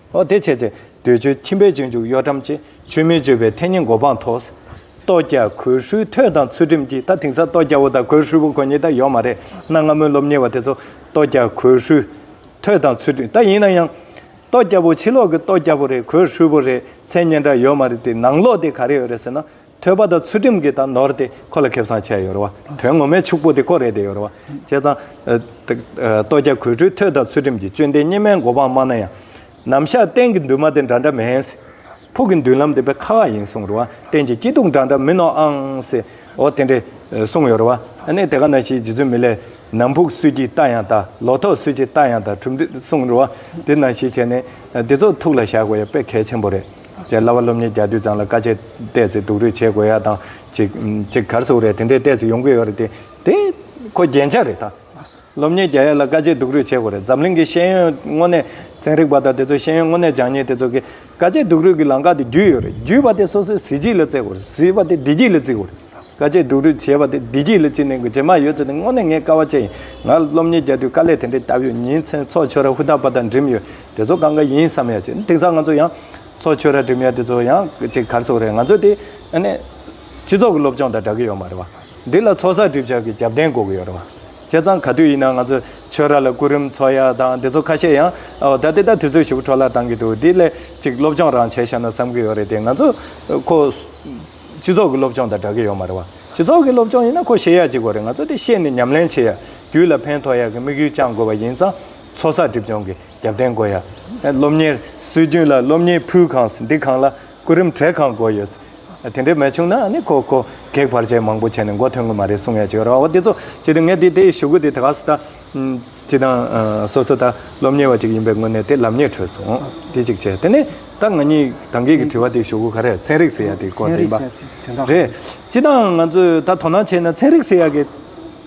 ཨོ་དེ་བྱས་ཚེ་འདོད་འཇོའི་ཁྱིམ་པའི་སྤྱོད་འཇུག་གཡོ་ཁྲམ་བཅས་ཆོས་མིན་སྤྱོད་པའི་མཐའི་ཉེས་འགོ་འཕང་མཐོ། ལྟོ་སྐྱ་གོས་ཧྲུལ་ཐོད་དང་ཚུལ་ཁྲིམས་ཀྱིས་ད་དེང་སང་ལྟོ་སྐྱ་བོ་དང་གོས་ཧྲུལ་བོ་གོ་ཉེས་ད་ཡོད་མ་རེད་གནའ་སྔ་མོའི་སློབ་གཉེར་བ་དེ་ཚོ་ལྟོ་སྐྱ་གོས་ཧྲུལ་ཐོད་དང་ཚུལ་ཁྲིམས་ད་ཡིན་ན་ཡང། ལྟོ་སྐྱ་བོ་ཕྱི་ལོག་གི་ལྟོ་སྐྱ་བོ་རེད་གོས་ཧྲུལ་བོ་རེད་མཚན་སྙན་གྲགས་ཡོད་མ་རེད་དེ་ནང་ལོག་དེ་ག་རེ་ཡོད་རེད་ཟེར་ན་ཐོད་པ་དང་ཚུལ་ཁྲིམས་ཀྱི་དང་ནོར་དེ་ཁོ་ལ་ཁེབས་སང་ཆད་ཡོད་རེད་བ། དོན་ངོ་མའི་ཕྱུག་པོ་དེ་ཁོ་རེད་དེ་ཡོད་རེད་བ། བྱས་ཙང། ལྟོ་རྒྱ་གོས་འཁྲུའི་ཐོད་དང་ཚུལ་ཁྲིམས་ཀྱི་དཔྱོད་ལྡན་སྙེ་མའི་མགོ་འཕང་དམའ་ན་ཡང། ནམ་ཞག་གཏན་གྱི་འདུན་མ་དེ་འདྲ་འདྲ་མིན། ཕུགས་ཀྱི་མདུན་ལམ་དེ་བས་ཁག་ཁག་ཡིན་གསུངས་རེད་བ། གཏན་གྱི་སྐྱིད་སྡུག་འདྲ་འདྲ་མིན་ནོ་ཨང། ཨོ་དེ་འདྲས་གསུངས་ཡོད་རེད་བ། ཨ་ནི་དེ་ག་ན་ཞིག་རྗེ་བཙུན་མི་ལས། ནམ་ཕུགས་སུས་ཀྱིས་བལྟ་ཡང་བལྟ། ལོ་ཐོག་སུས་ཀྱིས་བལྟ་ཡང་བལྟ་གྲུབ་འབྲས་གསུངས་རེད་བ། དེ་ན་ཞིག་བྱས་ནས། འདི་ཚོ་ཐུགས་ལ་བཞག་དགོས་ཡ་དཔེ་གལ་ཆེན་པོ་རེད། ཟེར་སླ་བ་སློབ་གཉེར་རྒྱག་དུས་ཙང་ལ་དཀའ་སྤྱད་བལྟས་ཚེ་སྡུག་རུས་བྱེད་དགོས་ཡག་དང་ཅིག་ཅིག་གར་སོགས་རེད་དེ་འདྲའི་བལྟས་ཚེ་ཡོང་གི་ཡོད་རེད་དེ་དེ་ཁོ་རྒྱན་ཆ་རེད་ད་སློབ་གཉེར་རྒྱག་ཡག་ལ་དཀའ་སྤྱད་སྡུག་རུས་བྱེད་དགོས་རེད་འཛམ་གླིང་གི་ཤེས་ཡོན་དངོས་གནས་ཚན་རིག་པ་དང་དེ་ཚོ་ཤེས་ཡོན་དངོས་གནས་སྦྱང་ཉེས་དེ་ཚོ་གི་དཀའ་སྤྱད་སྡུག་རུས་ཀྱི་ལང་ཀ་དེ་བརྒྱུད་ཡོད་རེད་བརྒྱུད་པ་དེ་སོ་སོའི་གཟི་བརྗིད་ལ་བརྩི་དགོས་རེད་བརྩི་བ་དེ་བདེ་སྐྱིད་ལ་བརྩི་དགོས་རེད་དཀའ་སྤྱད་སྡུག་རུས་བྱེད་པ་དེ་བདེ་སྐྱིད་ལ་བརྩི་ནས་དགོས་རྗེས་མ་ཡོད་ཚོད་དེ་དངོས་གནས་ངས་དཀའ་བ་སྤྱད་ཡིན་ང་སློབ་གཉེར་རྒྱག་དུས་དཀའ་ལས་དེ་འདྲའི་ལྟ་བུ་ཡིན་མཚན་ཚོགས་ཆོས་ར་ཧུ་ད་པ་དང་འགྲིམས་ཡོད། དེ་ཚོ་གང་ག་ཡིན་བསམ་ཡ་བྱེད་དེང་སང་ང་ཚོ་ཡང། ཚོགས་ཆོས་ར་འགྲིམ་ཡ་དེ་ཚོ་ཡང་ཅིག་གར་སོང་རེད་ང་ཚོ་དེ། སྤྱི་ཚོགས་ཀྱི་སློབ་སྦྱོང་དང་སྦྲག་གི་ཡོད་མ་རེད་བ། འདི་ལ་ཚོགས་བསགས་སྒྲིབ་བྱ་གི་རྒྱབ་རྟེན་འགོག་གི་ཡོད་རེད་བ། བྱས་ཙང་ག་དུས་ཡིན་ན་ང་ཚོ་ཆོས་ར་ལ་སྐུ་རིམ་ཚོགས་ཡ་དང་དེ་ཚོ་ཁ་ཤས་ཡང། ད་དེ་ལྟར་དུས་ཚོད་ཞུགས་འཕྲོ་བརླག་བཏང་གི་འདུག་དེ་ལས་ཅིག་སློབ་སྦྱོང་རང་བྱས་ཤ་ན་བསམ་གི་ཡོད་རེད་དེ་ང་ཚོ། ཁོ། སྤྱི་ཚོགས་ཀྱི་སློབ་སྦྱོང་དང་སྦྲག་གི་ཡོད་མ་རེད་བ། སྤྱི་ཚོགས་ཀྱི་སློབ་སྦྱོང་ཡིན་ན་ཁོ་ཤེས་ཡ་བྱེད་དགོས་རེད་ང་ཚོ་དེ་ཤེས་ནས་ཉམས་ལེན་བྱེད་ཡ་རྒྱུ་ལ་ཕན་ཐོགས་ཡ་གི་དམིགས་ཡུལ་བཅང་དགོས་བ་ཡིན་ཙང། ཚོགས་བསགས་སྒྲིབ་སྦྱོང་གི་རྒྱབ་རྟེན་དགོས་ཡ། སློབ་གཉེར་སྲོལ་རྒྱུན་ལ་སློབ་གཉེར་ཕུལ་གང་འདི་གང་ལ་སྐུ་རིམ་གྲས་གང་དགོས་ཡོད། དེ་འདྲས་མེད་བྱུང་ན་ནི་ཁོ་ཁོ་གེགས་བར་ཆད་མང་པོ་བྱས་ནས་མགོ་ཐོན་གི་མ་རེད་གསུང་ཡ་བྱེད་རོགས་འདི་ཚོ་ཅི་དང་ངས་དེ་དེ་ཞུ་གི་དེ་དགའ་སུ་ད། ཅི་དང་སོ་སོ་ད་སློབ་གཉེར་བ་ཅིག་ཡིན་པའི་ངོས་ནས་དེ་ལབ་ཉེས་ཁྲོད་སོང་དེ་ཅིག་བྱས་དེ་ནས་ད་ང་གཉིས་དང་གེགས་ཀྱི་དྲི་བ་དེ་ཞུ་གི་ག་རེ་ཚན་རིག་ཟེར་ཡ་དེ་སྐོར་དེ་ཡིན་པ་རེད། ཅི་དང་ང་ཚོས་ད་དོ་སྣང་བྱས་ན་ཚན་རིག་ཟེར་ཡ་གི།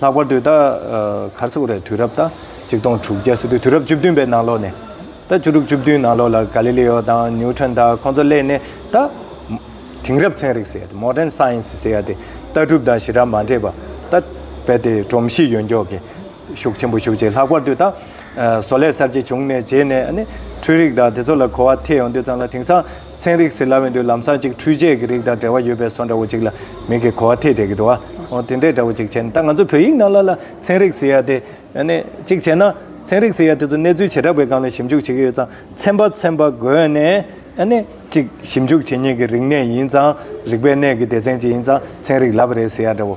ལྷག་པར་དུ་ད་ག་ཚོད་རེད་དུས་རབས་ད་གཅིག་སྟོང་དྲུག་བརྒྱ་སོ་དུས་དུས་རབས་བཅུ་བདུན་པའི་ནང་ལོགས་ནས་ད་བཅུ་དྲུག་བཅུ་བདུན་ནང་ལོགས་ལ་ག་ལི་ལི་ཡོ་དང་ནིའུ་ཁྲོན་ད་ཁོང་ཚོ་སླེབས་ནས་ད་དེང་རབས་ཚན་རིག་ཟེར་ཡ་དེ Modern Science ཟེར་ཡ་དེ་ལྟ་གྲུབ་དང་ཞི་རགས་མ་འདྲེས་པ་ད་རྦད་དེ་སྒྲོམ་གཞི་ཡོད་མགྱོགས་ཀྱི་ཤུགས་ཆེན་པོ་ཞུགས་རྗེས་ལྷག་པར་དུ་ད་བཟོ་ལས་གསར་བརྗེ་བྱུང་ནས་རྗེས་ནས་ཨ་ནི་འཕྲུལ་རིག་དང་དེ་ཚོ་ལ་གོ་བ་ཐེ་ཡོང་དུས་ཙམ་ལ་དེང་སང་ཚན་རིག་ཟེར་སླ་བས་འདོད་ལམ་སྲ་ཅིག་འཕྲུལ་ཆས་ཀྱི་རིགས་དང་འབྲེལ་བ་ཡོད་པའི་སོ་འདྲ་བོ་ཅིག་ལ་མིང་གི་གོ་བ་ཐེད་ཐེད་ཀྱི་འདུག་ཨ། དེ་འདྲའི་འདྲ་བོ་ཅིག་བྱས་ནས་ད་ང་ཚོ་བོད་ཡིག་ནང་ལ་ལ་ཚན་རིག་ཟེར་ཡ་དེ། ནས་ཅིག་བྱས་ན། ཚན་རིག་ཟེར་ཡ་དེ་ཚོ་གནས་ཚུལ་བྱེ་བྲག་པའི་སྒང་ལ་ཞིབ་འཇུག་བྱེད་ཀྱི་ཡོད་ཙང་ཚན་པ་ཚན་པ་བགོས་ནས། ནས་ཅིག་ཞིབ་འཇུག་བྱེད་ཉེས་ཀྱི་རིག་གནས་ཡིན་ཙང་རིག་པའི་གནས་ཀྱི་སྡེ་ཚན་ཅིག་ཡིན་ཙང་ཚན་རིག་ལབ་རེད་ཟེར་ཡ་འདྲ་བོ།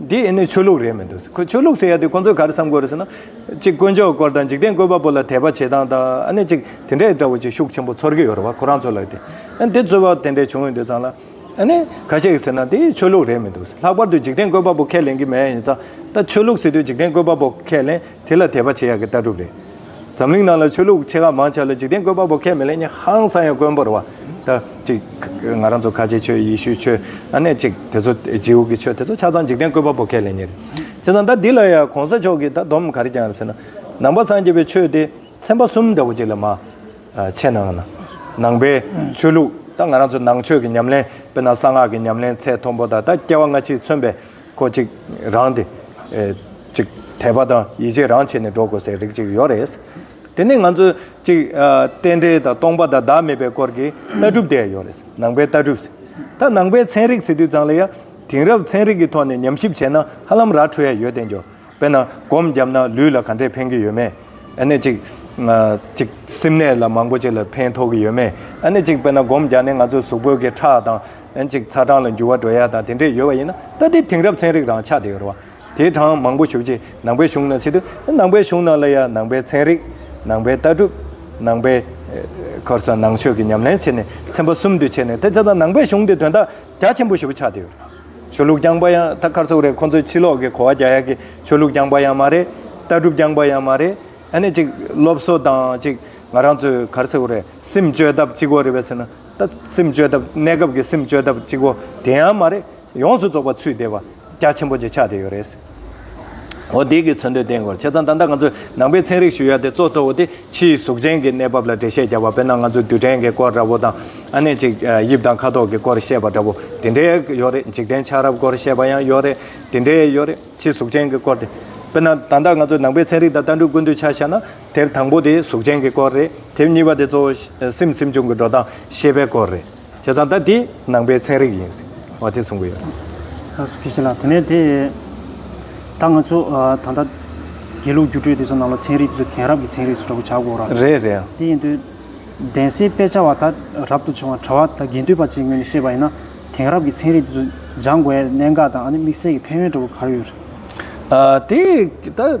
འདི་ཡིན་ནི་ཆོས་ལུགས་རེད་མི་འདུག་ཁོས་ཆོས་ལུགས་ཟེར་ཡ་དེ་ཁོ་ཚོས་ག་རེ་བསམ་དགོས་རེད་ཟེར་ན། གཅིག་དཀོན་མཆོག་སྐོར་དང་འཇིག་རྟེན་བཀོད་པ་པོ་ལ་དད་པ་བྱེད་སྟངས་དང་ཨ་ནི་གཅིག་དེ་འདྲས་འདྲ་བོ་གཅིག་ཤུགས་ཆེན་པོ་ཚོར་གི་ཡོད་རེད་བ་ཁོ་རང་ཚོ་ལ་དེ། ཨ་ནི་དེ་རྩོད་པ་དེ་འདྲས་བྱུང་ཡོད་འདོད་ཙང་ལ། ཨ་ནི་ག་ཞིག་ཟེར་ན་འདི་ཆོས་ལུགས་རེད་མི་འདུག་ལྷག་པར་དུ་འཇིག་རྟེན་བཀོད་པ་པོ་ཁས་ལེན་གི་མེད་ཡིན་ཙང་ད་ཆོས་ལུགས་ཟེར་དུས་འཇིག་རྟེན་བཀོད་པ་པོ་ཁས་ལེན་དེ་ལ་དད་པ་བྱེད་ཡག་གི་ལྟ་གྲུབ་རེད། འཛམ་གླིང་ནང་ལ་ཆོས་ལུགས་ཆེ་ཁག་མང་ཆགས་ལ་འཇིག་རྟེན་བཀོད་པ་པོ་ཁས་མི་ལེན་ཉེན་ཧང་སང་ཡང་དཀོན་པོར་བ་ད་ཅིག་ང་རང་ཚོ་ཁ་ཆེའི་ཆོས་ཡེ་ཤུའི་ཆོས་ཨ་ནེ་ཅིག་དེ་ཚོ་རྗེའུ་གི་ཆོས་དེ་ཚོ་ཆ་ཚང་འཇིག་རྟེན་བཀོད་པ་པོ་ཁས་ལེན་ཉེན་རེད་བྱས་ཙང་ད་འདི་ལ་ཡང་གོང་ས་མཆོག་གིས་ད་སྡོམ་ག་རེ་བསྐྱངས་རེད་ཟེར་ན། ནང་པ་སངས་རྒྱས་པའི་ཆོས་དེ་ཚན་པ་གསུམ་འདྲ་བོ་ཅིག་ལས་མ་ཕྱེ་ནའང་ན། ནང་པའི་ཆོས་ལུགས་ད་ང་རང་ཚོ་ནང་ཆོས་ཀྱི་ཉམས་ལེན་དཔེར་ན་གསང་སྔགས་ཀྱི་ཉམས་ལེན་ཚད་མཐོན་པོ་དང་ད་སྐྱེ་བ་སྔ་ཕྱིའི་མཚོན་པའི་ཁོ་ཅིག་རང་དེ། ཅིག། དད་པ་དང་ཡིད་ཆེས་རང་བྱས་ནས་འགྲོ་དགོས་སའི་རིགས་ཅིག་ཡོད་རེད། དེ་ནི་ང་ཚོས་ཅིག། རྟེན་འབྲེལ་དང་སྟོང་པ་དང་བདག་མེད་པའི་སྐོར་གྱི་ལྟ་གྲུབ་དེ་ཡང་ཡོད་རེད། ནང་པའི་ལྟ་གྲུབ། ད་ནང་པའི་ཚན་རིག་ཟེར་དུས་ཙང་ལ་ཡང། དེང་རབས་ཚན་རིག་གི་ཐོག་ནས་ཉམས་ཞིབ་བྱས་ན་ཧ་ལམ་ར་འཕྲོད་ཡས་ཡོད་བསྟན་རྒྱུ། དཔེར་ན་སྒོམ་བརྒྱབ་ན་ལུས་ལ་ག་འདྲས་ཕན་གྱི་ཡོད་མེད། ཨ་ནེ་གཅིག། གཅིག། སེམས་ནད་ལ་མང་པོ་ཅིག་ལ་ཕན་ཐོགས་ཀྱི་ཡོད་མེད། ཨ་ནེ་གཅིག་དཔེར་ན་སྒོམ་བརྒྱབ་ནས་ང་ཚོའི་གཟུགས་པོའི་གི་ཁྲག་དང། གཅིག་ཚ་གྲང་ལ་འགྱུར་བ་འགྲོ་ཡ་དང་དེ་འདྲས་ཡོད་པ་ཡིན་ན་ད་ལྟའི་དེང་རབས་ཚན་རིག་རང་ཆགས་དེ་ཡོད་རེད་བ། དེའི་གྲངས་མང་པོ་ཞུ་རྗེས་ནང་པའི་གཞུང་ནང་ཕྱི་དུ་ནང་པའི་གཞུང་ནང་ལ་ཡང་ནང་པའི་ཚན་རིག། ནང་པའི་ལྟ་གྲུབ། ནང་པའི། ཁར་སོང་ནང་ཆོས་ཀྱི་ཉམས་ལེན་བྱས་ནས་ཚན་པ་གསུམ་དུ་ཕྱེ་ནས་དེ་ཚ་དང་ནང་པའི་གཞུང་དེ་དོན་དག་རྒྱ་ཆེན་པོ་ཞུ་བ་ཆགས་དེ་ཡོད་རེད་བ། ཆོས་ལུགས་རྐྱང་པ་ཡང་ད་ཁར་ཚོགས་རེད་ཁོང་ཚོས་ཕྱི་ལོག་གི་གོ་བ་རྒྱག་ཡག་གི་ཆོས་ལུགས་རྐྱང་པ་ཡང་མ་རེད་ལྟ་གྲུབ་རྐྱང་པ་ཡང་མ་རེད་ཨ་ནི་ཅིག་སློབ་གསོ་དང་ཅིག་ང་རང་ཚོས་གར་ཚོགས་རེད་སེམས་བཅོས་ཐབས་གཅིག་གོ་རེད་བས་ཟེར་ན་ད་སེམས་བཅོས་ཐབས་གནས་སྐབས་ཀྱི་སེམས་བཅོས་ཐབས་གཅིག་གོ་དེ་ཡང་མ་རེད་ཡོངས་སུ་རྫོགས་པ་ཚུད་དེ་བ་རྒྱ་ཆེན་པོ་གཅིག་ཆགས་དེ་ཡོད་རེད། འོ་དེ་གའི་མཚོན་དོན་བསྟན་དགོས་ཆེ་ཙང་ད་ལྟ་ང་ཚོས་ནང་པའི་ཚན་རིག་ཞུ་ཡ་དེ་གཙོ་གཙོ་བོ་དེ་ཕྱིའི་གཟུགས་ཅན་གྱི་གནས་བབ་ལ་འགྲེལ་བཤད་རྒྱག་པ་དཔེར་ན་ང་ཚོས་རྡུལ་ཕྲན་གྱི་སྐོར་འདྲ་བོ་དང་ཨ་ནེ་ཅིག་དབྱིབས་དང་ཁ་དོག་གི་སྐོར་བཤད་པ་འདྲ་བོ་དེ་འདྲའི་ཡོད་རེད་འཇིག་རྟེན་ཆགས་རབས་སྐོར་བཤད་པ་ཡང་ཡོད་རེད་དེ་འདྲའི་ཡོད་རེད་ཕྱིའི་གཟུགས་ཅན་གྱི་སྐོར་དེ། དཔེར་ན་ད་ལྟ་ང་ཚོས་ནང་པའི་ཚན་རིག་དང་ལྟ་འགྲུས་ཀུན་བཏུས་ཆ་བཞག་ན་དེབ་དང་པོ་དེ་གཟུགས་ཅན་གྱི་སྐོར་རེད་དེབ་གཉིས་པ་དེ་གཙོ་བོ་སེམས་སེམས་བྱུང་གི་འགྲོ་སྟངས་ཤེས་པའི་སྐོར་རེད། བྱས་ཙང་ད་དེ་ནང་པའི་ཚན་རིག་ཡིན་ཟེར་བ་དེ་གསུང་གི་ཡོད། ལྷ་སོ་སྐྱེ་ཤི་ལགས་དེ་ནས་དེ་ད་ང་ཚོ་ད་ལྟ་དགེ་ལུགས་སྒྱུ་རྩོད་དེ་ཚོ་ནང་ལ་ཚན་རིག་དེ་ཚོ་དེང་རབས་ཀྱི་ཚན་རིག་ཚོ་འདྲ་པོ་བྱ་དགོས་ར། རེད་རེད་ཡ། དེ་ཡིན་དུས་གདན་སའི་དཔེ་ཆ་བ་ད་རབ་ཏུ་བྱུང་བ་གྲྭ་བ་ད་དགེ་འདུན་པ་གཅིག་ངོས་ནས་བཤད་པ་ཡིན་ན་དེང་རབས་ཀྱི་ཚན་རིག་དེ་ཚོ་སྦྱང་དགོས་ཡ་གནད་འགག་དང་ཨ་ནི་དམིགས་བསལ་གྱི་ཕན་ཡོན་འདྲ་པོ་ག་རེ་ཡོད་རེད། ཨ་དེ་ད།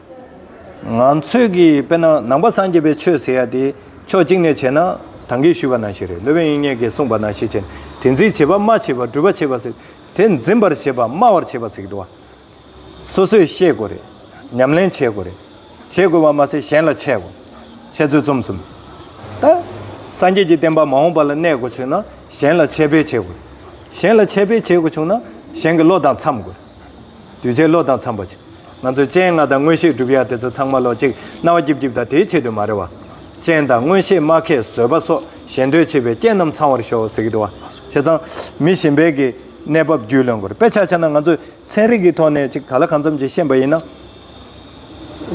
ང་ཚོས་ཀྱིས་དཔེར་ན་ནང་པ་སངས་རྒྱས་པའི་ཆོས་ཟེར་ཡ་དེ་ཕྱོགས་གཅིག་ནས་བྱས་ན་དང་གིས་ཞུས་པ་ནང་བཞིན་རེད་སློབ་དཔོན་དབྱིག་གཉེན་གྱིས་གསུངས་པ་ནང་བཞིན་བྱས་ན་དེ་འཛིན་བྱེད་པ་སྨྲ་བྱེད་པ་སྒྲུབ་པ་བྱེད་པ་ཟེར་དེ་འཛིན་པར་བྱེད་པ་སྨྲ་བར་བྱེད་པ་ཟེར་གི་འདུག་བ། སོ་སོས་ཤེས་དགོས་རེད། ཉམས་ལེན་བྱེད་དགོས་རེད། བྱེད་དགོས་པ་མ་ཟད་གཞན་ལ་འཆད་དགོས། འཆད་རྩོད་རྩོམ་གསུམ། ད། སངས་རྒྱས་ཀྱི་བསྟན་པ་མ་འོངས་པ་ལ་གནས་དགོས་ཆོད་ན་གཞན་ལ་འཆད་སྤེལ་བྱེད་དགོས་རེད། གཞན་ལ་འཆད་སྤེལ་བྱེད་དགོས་བྱུང་ན་གཞན་གྱི་བློ་དང་འཚམས་དགོས་རེད། གདུལ་བྱའི་བློ་དང་འཚམས་པ་ཅིག། ང་ཚོས་སྤྱན་ལྔ་དང་མངོན་ཤེས་བསྒྲུབ་ཡ་དེ་ཚོ་ཚང་མ་ལོ་གཅིག་རྣ་བ་སྐྱིབ་སྐྱིབ་དང་དེའི་ཆེད་དུ་མ་རེད་བ། སྤྱན་དང་མངོན་ཤེས་སྨྲ་མཁས་བཟོད་པ་སོགས་ཞེ་འདོད་ཆེ་བའི་རྐྱེན་རྣམས་ཚང་བར་ཤོག་ཟེར་གྱི་འདུག་བ། བྱས་ཙང། མི་གཞན་པའི་གི་གནས་བབ་རྒྱུས་ལོན་དགོས་རེད་དཔེ་ཆ་ཆ་ན་ང་ཚོས་ཚན་རིག་གི་ཐོག་ནས་ཅིག་ད་ལ་གང་འཚམས་ཅིག་ཤེས་པ་ཡིན་ན།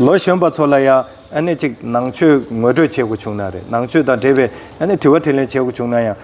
ལོ་གཞོན་པ་ཚོ་ལ་ཡ་ཨ་ནི་ཅིག་ནང་ཆོས་ངོས་སྤྲོད་བྱེད་དགོས་བྱུང་ན་རེད་ནང་ཆོས་དང་འབྲེལ་བའི་ཨ་ནི་དྲི་བ་དྲི་ལན་བྱེད་དགོས་བྱུང་ན་ཡང།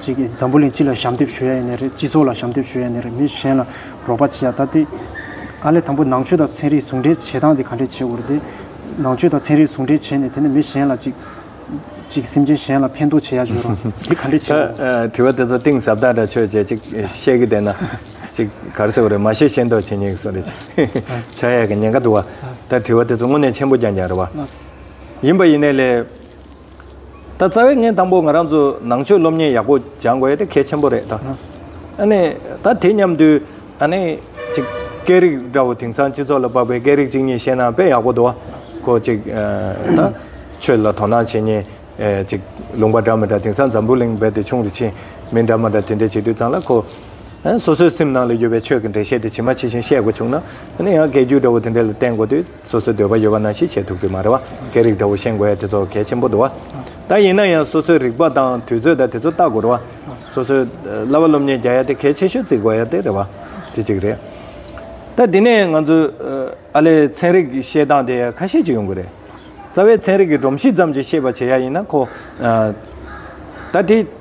ཅིག་གིས་འཛམ་བུ་གླིང་སྤྱི་ལ་ཞབས་འདེབས་ཞུ་ཡ་ཡིན་ནི་རེད་སྤྱི་ཚོགས་ལ་ཞབས་འདེབས་ཞུ་ཡ་ཡིན་ནི་རེད་མི་གཞན་ལ་རོགས་པ་བྱེད་ཡ་ད་དེ། ཨ་ལས་དང་པོ་ནང་ཆོས་དང་ཚན་རིག་ཟུང་འབྲེལ་བྱེད་སྟངས་དེ་ག་འདྲས་བྱེད་དགོས་རེད་དེ། ནང་ཆོས་དང་ཚན་རིག་ཟུང་འབྲེལ་བྱས་ནས་དེ་ནས་མི་གཞན་ལ་ཅིག། ཅིག་སེམས་ཅན་གཞན་ལ་ཕན་ཐོགས་བྱེད་ཡ་བྱོས་རོགས་དེ་ག་འདྲས་བྱེད་དགོས་རེད། དྲི་བ་དེ་ཚོ་གཏིང་ཟབ་དག་འདྲ་ཆོས་བྱེད་ཅིག་ཤེས་ཀྱི་བསྡད་ན། ཅིག་གར་སེ་བ་རེད་མ་ཤེས་ཤེས་མདོག་བྱེད་ཉེས་གི་སོ་རེད་ཅིག། ཆག་ཡ་གི་ཉེན་ཁ་འདུག་བ། ད་དྲི་བ་དེ་ཚོ་དངོས་གནས་ཆེན་པོ་ཀྱང་ཀྱང་རེད་བ། ཡིན་པ་ཡིན་ནས་ལས། ད་རྩ་བའི་ངན་དང་པོ་ང་རང་ཚོ་ནང་ཆོས་སློབ་གཉེར་ཡག་པོ་སྦྱང་དགོས་དེ་གལ་ཆེན་པོ་རེད་ད། ཨནི་ད་དེ་མཉམ་དུ་ཨནི་ཅིག་སྐད་རིགས་འདྲ་བོ་དེང་སང་སྤྱི་ཚོགས་ལ་དཔག་པའི་སྐད་རིགས་གཅིག་གཉིས་ཤེས་ན་དཔེ་ཡག་པོ་འདུག་གོ་ཅིག་ད་ཆོས་ལ་དོ་སྣང་བྱེད་ཉེན་ཅིག་ལུང་པ་འདྲ་མི་འདྲ་དེང་སང་འཛམ་བུ་གླིང་རྦད་དེ་ཆུང་རེ་ཕྱིན་མི་འདྲ་མ་འདྲ་དེ་འདྲ་བྱེད་དུས་ཙང་ལ་གོ། སོ་སོའི་སེམས་ནང་ལ་ཡོད་པའི་ཆོས་ཀྱི་འགྲེལ་བཤད་དེ་ཇི་མ་ཇི་བཞིན་བཤད་དགོས་བྱུང་ན་ཨནི་ཡང་སྐད་རྒྱུད་འདྲ་བོ་དེ་འདྲ་ལ་བརྟེན་དགོས་དུས། སོ་སོའི་འདོད་པ་ཡོད་པ་ན་ཤེས་བྱའི་ཐུག་ཚུལ་མ་རེད་བ་སྐད་རིགས་འདྲ་བོ་ཤེས་དགོས་ཡ་དེ་ཚོ་གལ་ཆེན་པོ་འདུག་བ། ད་ཡིན་ན་ཡང་སོ་སོའི་རིག་པ་དང་དུས་ཚོད་དང་དེ་ཚོ་ལྟ་དགོས་རེད་བ། སོ་སོའི་བསླབ་པ་སློབ་གཉེར་རྒྱག་ཡ་དེ་གལ་ཆེ་ཤོས་བརྩི་དགོས་ཡ་དེ་རེད་བ། དེ་གཅིག་རེད། ད་དེ་ནས་ང་ཚོས་ཨ་ལས་ཚན་རིག་ཤེས་སྟངས་དེ་ཁ་ཤས་ཅིག་ཡོང་དགོས་རེད། རྩ་བའི་ཚན་རིག་གི་སྒྲོམ་གཞི་ཙམ་གྱི་ཤེས་པ་བྱེད་ཡ་ཡིན་ན་ཁོ། ད་དེ།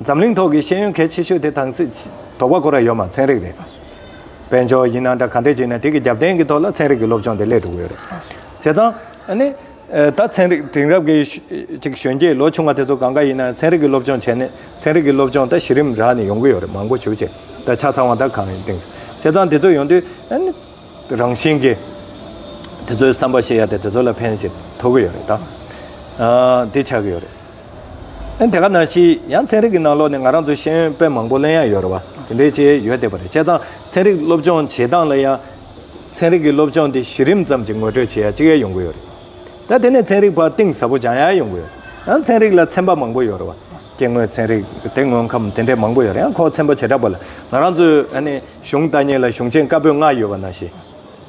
འཛམ་གླིང་ཐོག་གི་ཤེས་ཡོན་གལ་ཆེ་ཤོས་དེ་དང་སྲིད་དོགས་པ་ཁོ་ར་ཡོད་མ་ཚན་རིག་རེད་པ། དཔལ་འབྱོར་ཡིན་ན་འདྲ་ག་འདྲས་བྱས་ན་དེ་གི་རྒྱབ་རྟེན་གི་ཐོག་ལ་ཚན་རིག་གི་སློབ་སྦྱོང་དེ་སླེབས་འགྲོ་གི་ཡོད་རེད། བྱས་ཙང་ཨ་ནི། ད་ཚན་རིག་དེང་རབས་གི་ཅིག་གཞོན་སྐྱེས་ལོ་ཆུང་བ་དེ་ཚོ་གང་ག་ཡིན་ན་ཚན་རིག་གི་སློབ་སྦྱོང་བྱས་ནས་ཚན་རིག་གི་སློབ་སྦྱོང་ད་གཞི་རིམ་རག་ནས་ཡོང་གི་ཡོད་རེད་མང་པོ་བྱུ་བྱས་ད་ཆ་ཚང་བ་ད་གང་ཡིན་སྟེང། བྱས་ཙང་དེ་ཚོ་ཡོང་དུས་ཨ་ནི། རང་བཞིན་གྱིས་དེ་ཚོའི་བསམ་པ་ཤེས་ཡ་དེ་དེ་ཚོ་ལ་ཕན་ཞིག་ཐོབ་ཀྱི་ཡོད་རེད་ད། དེ་ཆགས་ཀྱི་ཡོད་རེད། ཨེ་དེ་ག་ན་ཤི་ཡང་ཚན་རིག་གི་ནང་ལོགས་ནས་ང་རང་ཚོ་ཤེས་ཡོན་དཔེ་མང་པོ་གླེང་ཡ་ཡོད་རེད་བ་དེ་འདྲའི་ཆེ་ཡོད་བསྡད་པ་རེད་བྱས་ཙང་ཚན་རིག་སློབ་སྦྱོང་བྱེད་སྟངས་ལ་ཡང། ཚན་རིག་གི་སློབ་སྦྱོང་དེ་གཞི་རིམ་ཙམ་གྱི་ངོ་སྤྲོད་བྱེད་ཡ་ཅིག་ཡ་ཡོང་གི་ཡོད་རེད་ད་དེ་ནས་ཚན་རིག་བར་གཏིང་ཟབ་པོ་སྦྱང་ཡ་ཡོང་གི་ཡོད་རེད་ཡང་ཚན་རིག་ལ་ཚན་པ་མང་པོ་ཡོད་རེད་བ་སྐྱེ་དངོས་ཚན་རིག་དེ་དངོས་ཁམས་དེ་འདྲས་མང་པོ་ཡོད་རེད་ཡང་ཁོ་ཚན་པ་བྱེ་བྲག་པ་ལ་ང་རང་ཚོས་ཨ་ནི། གཞུང་དག་ཉིད་ལ་གཞུང་ཆེན་བཀའ་པོད་ལྔ་ཡོད་པ་ན་ཞེས་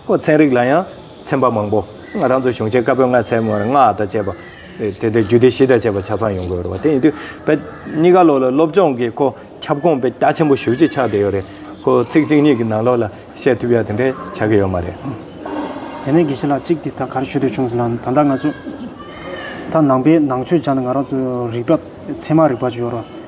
པོ་ཚན་རིག་ལ་ཡང་ཚན་པ་མང་པོ་རང་ཚོ་གཞུང་ཆེན་བཀའ་པོད་ལྔ་ཚན་མོ་ལྔ་དང་བཅས་པ་དེ་དེ་རྒྱུད་སྡེ་བཞི་དང་བཅས་པ་ཆ་ཚང་ཡོང་དགོས་རེད་བ་དེ་ཡིན་དུས་བོད་གཉིས་ཀ་ལོགས་ལ་སློབ་སྦྱོང་གི་ཁོ་ཁྱབ་གོང་སྤེལ་རྒྱ་ཆེན་པོ་ཞུ་རྒྱུ་ཆགས་བསྡད་ཡོད་རེད་ཁོ་ཚིག་གཅིག་གཉིས་ཀྱི་ནང་ལོགས་ལ་བཤད་ཐུབ་ཡ་དེ་འདྲས་ཆགས་ཀྱི་ཡོད་མ་རེད། དེ་ནས་དགེ་བཤེས་ལགས་གཅིག་དེ་ད་གར་ཞུ་འདོད་བྱུང་ཟེར་ན་ད་ལྟ་ང་ཚོ་ད་ནང་པའི་ནང་ཆོས་སྦྱངས་ན་ང་རང་ཚོ་རིག་པ་ཚད་མ་རིག་པ་ཅིག་ཡོད་རོགས།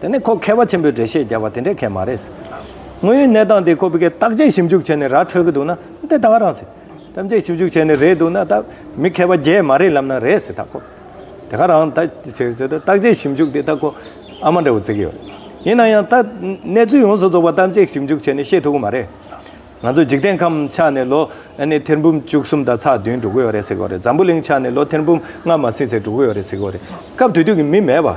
དེ་ནི་ཁོ་མཁས་པ་ཆེན་པོས་འགྲེལ་བཤད་རྒྱག་པ་དེ་འདྲའི་ཁེ་མ་རེད། དངོས་ཡོད་གནས་སྟངས་དེ་ཁོ་བོས་ཀྱི་བརྟག་དཔྱད་ཞིབ་འཇུག་བྱས་ནས་ར་འཕྲོད་ཀྱི་འདུག་ན་དེ་ད་ག་རང་ཟེར། བརྟག་དཔྱད་ཞིབ་འཇུག་བྱས་ནས་རེད་འདུག་ན་ད་མི་མཁས་པ་བརྒྱད་མ་རེད་ལབ་ན་རེད་ཟེར་ད་ཁོ། དེ་ག་རང་ད་བྱས་བྱས་ད་བརྟག་དཔྱད་ཞིབ་འཇུག་དེ་ད་ཁོ་ཨ་མ་འདྲ་བོ་བརྩི་གི་ཡོད་རེད། ཡིན་ན་ཡང་ད་གནས་ཚུལ་ཡོངས་སུ་རྫོགས་པ་བརྟག་དཔྱད་ཞིབ་འཇུག་བྱས་ནས་ཤེས་ཐུབ་ཀྱི་མ་རེད། ང་ཚོ་འཇིག་རྟེན་ཁམས་ཆགས་ནས་ལོ་ཨ་ནི་ཐེར་འབུམ་བཅུ་གསུམ་དང་ཚགས་བདུན་འགྲོ་གི་ཡོད་རེད་ཟེར་གི་ཡོད་རེད་འཛམ་བུ་གླིང་ཆགས་ནས་ལོ་ཐེར་འབུམ་ལྔ་མ་ཟིན་ཟེར་འགྲོ་གི་ཡོད་རེད་ཟེར་གི་ཡོད་རེད་སྐབས་དུས་དུས་ཀྱི་མི་མེད་པ།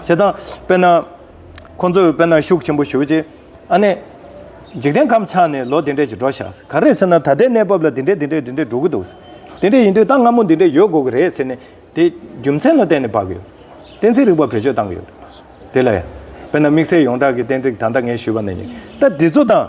བྱས་ཙང། དཔེར་ན། ཁོ་ཚོས་དཔེར་ན་ཤུགས་ཆེན་པོ་ཞུགས་རྗེས། ཨ་ནེ། འཇིག་རྟེན་ཁམས་ཆགས་ནས་ལོ་འདི་འདྲས་ཀྱི་འགྲོ་བཞག་ཟེར། ག་རེ་ཟེར་ན་ད་ལྟའི་གནས་བབ་ལ་འདི་འདྲས་འདི་འདྲས་འདི་འདྲས་འགྲོ་གི་འདུག་ཟེར། དེ་འདྲས་ཡིན་དུས་ད་སྔ་མོ་འདི་འདྲས་ཡོད་དགོས་ཀྱི་རེད་ཟེར་ནས། དེ། རྒྱུ་མཚན་ལ་བརྟེན་ནས་བབས་ཡོད། གཏན་ཚིགས་རིག་པ་བེད་སྤྱོད་བཏང་གི་ཡོད། དེ་ལ། དཔེར་ན་དམིགས་བསལ་ཡོངས་གྲགས་ཀྱི་གཏན་ཚིགས་ད་ལྟ་ངས་ཞུས་པ་ནི། ད་འདི་ཚོ་དང།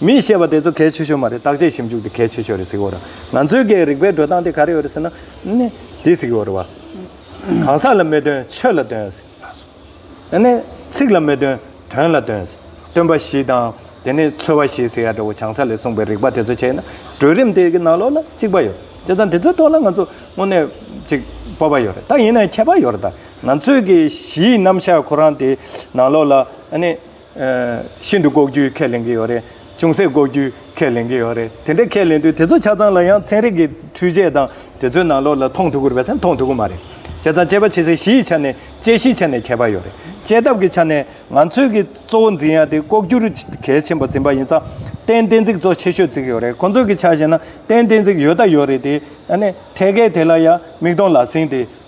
མིས་བཤད་པ་དེ་ཚོ་གལ་ཆེ་ཤོས་མ་རེད་བརྟག་དཔྱད་ཞིབ་འཇུག་དེ་གལ་ཆེ་ཤོས་རེད་ཟེར་གི་ཡོད། ང་ཚོའི་སྒེར་རིག་པའི་འགྲོ་སྟངས་དེ་ག་རེ་ཡོད་རེད་ཟེར་ན། འདི་ཟེར་གི་ཡོད་རེད། གང་ཟག་ལ་མི་སྟོན་ཆོས་ལ་སྟོན། ཚིག་ལ་མི་སྟོན་དོན་ལ་སྟོན། སྟོན་པ་བཞི་དང། དེ་ནས་ཚོལ་བ་བཞི་ཟེར་ཡ་འདྲ་བོ་བྱང་ས་ལས་གསུངས་པའི་རིག་པ་དེ་ཚོ་བྱས་ན་གྲོས་རིམ་དེ་གི་ནང་ལོགས་ལ་གཅིག་པ་ཡོད། བྱས་ཙང་དེ་ཚོའི་ཐོག་ལ་ང་ཚོ་དངོས་གནས་ཅིག་སྤོབས་པ་ཡོད་རེད་ད་ཡིན་ན་ཡང་ཁྱད་པར་ཡོད་རེད་ད། ང་ཚོའི་གི་གཞིའི་རྣམ་གཞག་ཁོ་རང་དེ་ནང་ལོགས་ལ། ཤིན་ཏུ་ལྐོག་གྱུར་ཁས་ལེན་གྱི་ཡོད་རེད། ཅུང་ཟད་ལྐོག་གྱུར་ཁས་ལེན་གྱི་ཡོད་རེད། དེ་འདྲ་ཁས་ལེན་དུས་དེ་ཚོ་ཆ་ཚང་ལ་ཡང་ཚན་རིག་གི་འཕྲུལ་ཆས་དང་དེ་ཚོའི་ནང་ལོགས་ལ་མཐོང་ཐུབ་ཀྱི་རེད་བསམ་མཐོང་ཐུབ་ཀྱི་མ་རེད། བྱས་ཙང་དཔྱད་པ་བྱེད་སའི་གཞི་ཡི་ཆ་ནས་དཔྱད་གཞིའི་ཆ་ནས་ཁྱད་པར་ཡོད་རེད། དཔྱད་ཐབས་ཀྱི་ཆ་ནས་ང་ཚོས་ཀྱི་གཙོ་བོ་འཛིན་ཡ་དེ་ལྐོག་གྱུར་གལ་ཆེན་པོ་འཛིན་པ་ཡིན་ཙང་ཏན་གཏན་ཚིག་ཚོགས་ཆེ་ཤོས་བརྩིགས་ཡོད་རེད་ཁོང་ཚོས་ཀྱི་ཆ་བཤད་ན་ཏན་གཏན་ཚིག་ཡོད་ད་ཡོད་རེད་དེ། ཨ་ནི་ཐད་ཀའི་དེ་ལ་ཡང་མིག་མཐོང་ལག་ཟིན་དེ་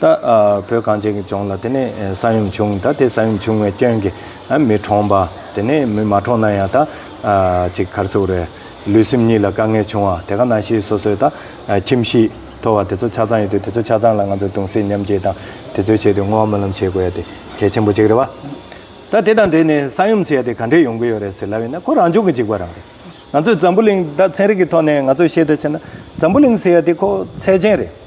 ད་བོད་གངས་ཅན་གྱི་ལྗོངས་ལ་དེ་ནས་ས་ཡོམ་བྱུང་ད་དེ་ས་ཡོམ་བྱུང་བའི་སྐྱོན་གྱི་མི་གྲོངས་པ་དེ་ནས་མི་མ་གྲོངས་ན་ཡང་ད་ཅིག་གར་ཚུགས་རེད་ལུས་སེམས་གཉིས་ལ་དཀའ་ངལ་བྱུང་བ་དེ་ག་ནང་བཞིན་སོ་སོས་ད་ཁྱིམ་གཞིས་ཐོར་བ་དེ་ཚོ་ཆ་ཚང་ཡོད་དུས་དེ་ཚོ་ཆ་ཚང་ལ་ང་ཚོས་གདུང་སེམས་མཉམ་སྐྱེད་དང་དེ་ཚོའི་ཆེད་དུ་བསྔོ་བ་སྨོན་ལམ་བྱེད་དགོས་ཡ་དེ་གལ་ཆེན་པོ་གཅིག་རེད་བ། ད་དེ་དང་འབྲེལ་ནས་ས་ཡོམ་ཟེར་ཡ་དེ་ག་འདྲས་ཡོང་གི་ཡོད་རེད་ཟེར་ལབ་ཡིན་ན་ཁོ་རང་ལྗོངས་ཀྱི་འཇིགས་པ་རང་རེད་ང་ཚོས་འཛམ་བུ་གླིང་ད་ཚན་རིག་གི་ཐོག་ནས་ང་ཚོས་ཤེས་ཐུབ་ཆེ་ན་འཛམ་བུ་གླིང་ཟེར་ཡ་དེ་ཁོ་ཚད་ཅན་རེད།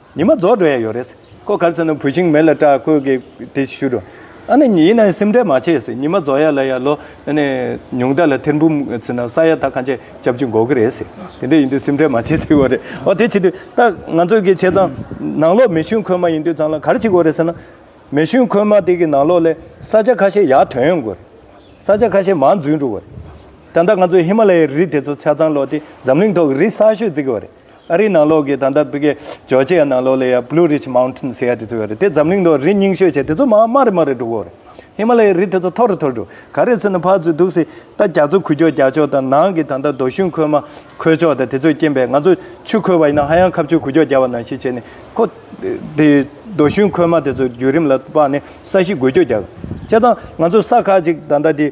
ཉི་མ་རྫོགས་འགྲོ་ཡས་ཡོད་རེད། ཁོ་གར་སོང་ནས་བུ་ཆིང་མེད་ལ་སྐྲག་ཁོས་གིས་དེ་ཞུས་རོ། ཨ་ནི་ཉི་ཡིན་ནའི་སེམས་ཁྲལ་མ་བྱས་ཟེར་ཉི་མ་རྫོགས་ཡས་ལ་ཡར་ལོ་ཨ་ནི་ཉུང་ད་ལ་ཐེར་འབུམ་ཚིག་ན་ས་ཡ་ད་གང་ཆད་ཅབ་ཅིག་འགོག་གི་རེད་ཟེར་དེ་འདྲ་ཡིན་དུས་སེམས་ཁྲལ་མ་བྱས་ཟེར་བ་རེད་ཨོ་དེ་བྱེད་དུས་ད་ང་ཚོས་གིས་བྱས་ཙང་ནང་ལོག་མེ་ཤུན་ཁོལ་མ་ཡིན་དུས་ཙང་ལ་གར་ཅིག་འགོ་རེད་ཟེར་ན། མེ་ཤུན་ཁོལ་མ་དེ་གིས་ནང་ལོག་ལས་ས་ཆ་ཁ་ཤས་ཡར་དོན་ཡོང་དགོས་རེད། ས་ཆ་ཁ་ཤས་མར་འཛུལ་འགྲོ་བ་རེད། ད་ལྟ་ང་ཚོས་ཧི་མ་ལ་ཡའི་རི་དེ་ཚོ་ཚར་ཙང་ལོག་དེ་འཛམ་གླིང་ཐོག་གི་རི་གསར་ཤོས་བརྩིགས་གི་བ་རེད། ཨ་རིའི་ནང་ལོགས་ཀྱི་ད་ལྟ་བོད་ཀྱི་ཇོ་ཇེ་ཡ་ནང་ལོགས་ལས་ཡ Blue Ridge Mountain ཟེར་ཡ་དེ་ཚོ་ཡོད་རེད་དེ་འཛམ་གླིང་ཐོག་རི་རྙིང་ཤོས་ཆེ་དེ་ཚོ་མ་དམའ་རེ་དམའ་རེ་འགྲོ་གོ་རེད། ཧི་མ་ལ་ཡའི་རི་དེ་ཚོ་མཐོ་རེ་མཐོ་རེ་འགྲོ་ག་རེ་སོན་ན་ཕར་ཚུར་འདུག་སྲིད་ད་རྒྱ་མཚོ་ཁུ་ཅོག་རྒྱ་ཅོག་དང་ནང་གི་ད་ལྟ་རྡོ་ཤུན་ཁོལ་མ་ཁོལ་ཅོག་དང་དེ་ཚོས་རྐྱེན་པས་ང་ཚོ་ཆུ་ཁོལ་བ་ཡིན་ན་ཧ་ཡང་ཁ་བཅུ་ཁུ་ཅོག་རྒྱ་བ་ནང་བཞིན་བྱས་ནས་ཁོ། དེ་རྡོ་ཤུན་ཁོལ་མ་དེ་ཚོ་བརྒྱུད་རིམ་ལ་དཔག་ནས་ས་གཞི་འགུལ་སྐྱོད་རྒྱག་དགོས་ཆ་ཚང་ང་ཚོ་ས་ཁག་ཅིག་ད་ལྟ་དེ།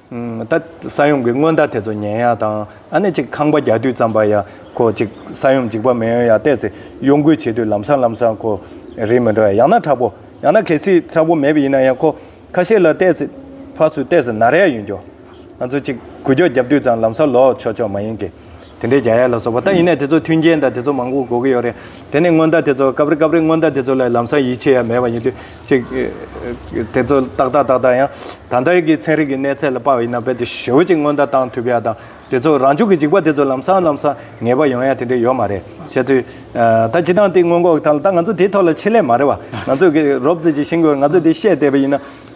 ད་ས་ཡོམ་གྱི་སྔོན་བརྡ་དེ་ཚོ་ཉན་ཡ་དང་ཨ་ནེ་ཅིག་ཁང་པ་རྒྱག་དུས་ཙམ་པ་ཡ་ཁོ་ཅིག་ས་ཡོམ་འཇིག་པ་མི་ཡོང་ཡ་བལྟས་ཚེ་གཡོ་འགུལ་བྱེད་དུས་ལམ་སང་ལམ་སང་ཁོ་རིག་མི་འགྲོ་ཡ་ཡང་ན་དྲག་པོ་ཡང་ན་གལ་སྲིད་དྲག་པོ་མེད་པ་ཡིན་ན་ཡང་ཁོ་ཁ་ཤས་ལ་བལྟས་ཚེ་ཕ་སུ་བལྟས་ཚེ་ན་རེ་ཡ་ཡོད་འགྱོ། ང་ཚོ་ཅིག་གུ་རྒྱོག་རྒྱབ་དུས་ཙང་ལམ་སང་ལོག་ཆོག་ཆོག་མ་ཡིན་གི། དེ་འདྲའི་རྒྱ་ཡལ་ལ་སོགས་པ་ད་ཡིན་ནས་དེ་ཚོ་མཐུན་རྐྱེན་དང་དེ་ཚོ་མང་པོ་གོ་གི་ཡོད་རེད། དེ་ནི་སྔོན་བརྡ་དེ་ཚོ་སྐབས་རེ་སྐབས་རེ་སྔོན་བརྡ་དེ་ཚོ་ལ་ལམ་སང་ཡིད་ཆེས་ཡ་མེད་པ་ཡིན་དུས་ཅིག། དེ་ཚོ་ཏག་ཏག་ཏག་ཏག་ཡང་ད་ལྟ་ཡི་གི་ཚན་རིག་གི་གནས་ཚད་ལ་དཔག་ཡིན་ན་རྦད་དེ་ཞོལ་ཅིག་སྔོན་བརྡ་བཏང་ཐུབ་ཡ་དང་དེ་ཚོ་རང་བྱུང་གི་འཇིག་པ་དེ་ཚོ་ལམ་སང་ལམ་སང་ངེས་པ་ཡོང་ཡ་དེ་འདྲ་ཡོད་མ་རེད་བཤད་དུས། ད་སྤྱི་སྟངས་དེ་སྔོན་འགོག་དང་ལ་ད་ང་ཚོ་དེའི་ཐོག་ལ་ཆེད་ལས་མ་རེད་བ། ང་ཚོས་གི་རོབ་རྩེད་ཀྱི་ཤིང་སྒོར་ང་ཚོས་དེ་བཤད་བསྡད་པ་ཡིན་ན།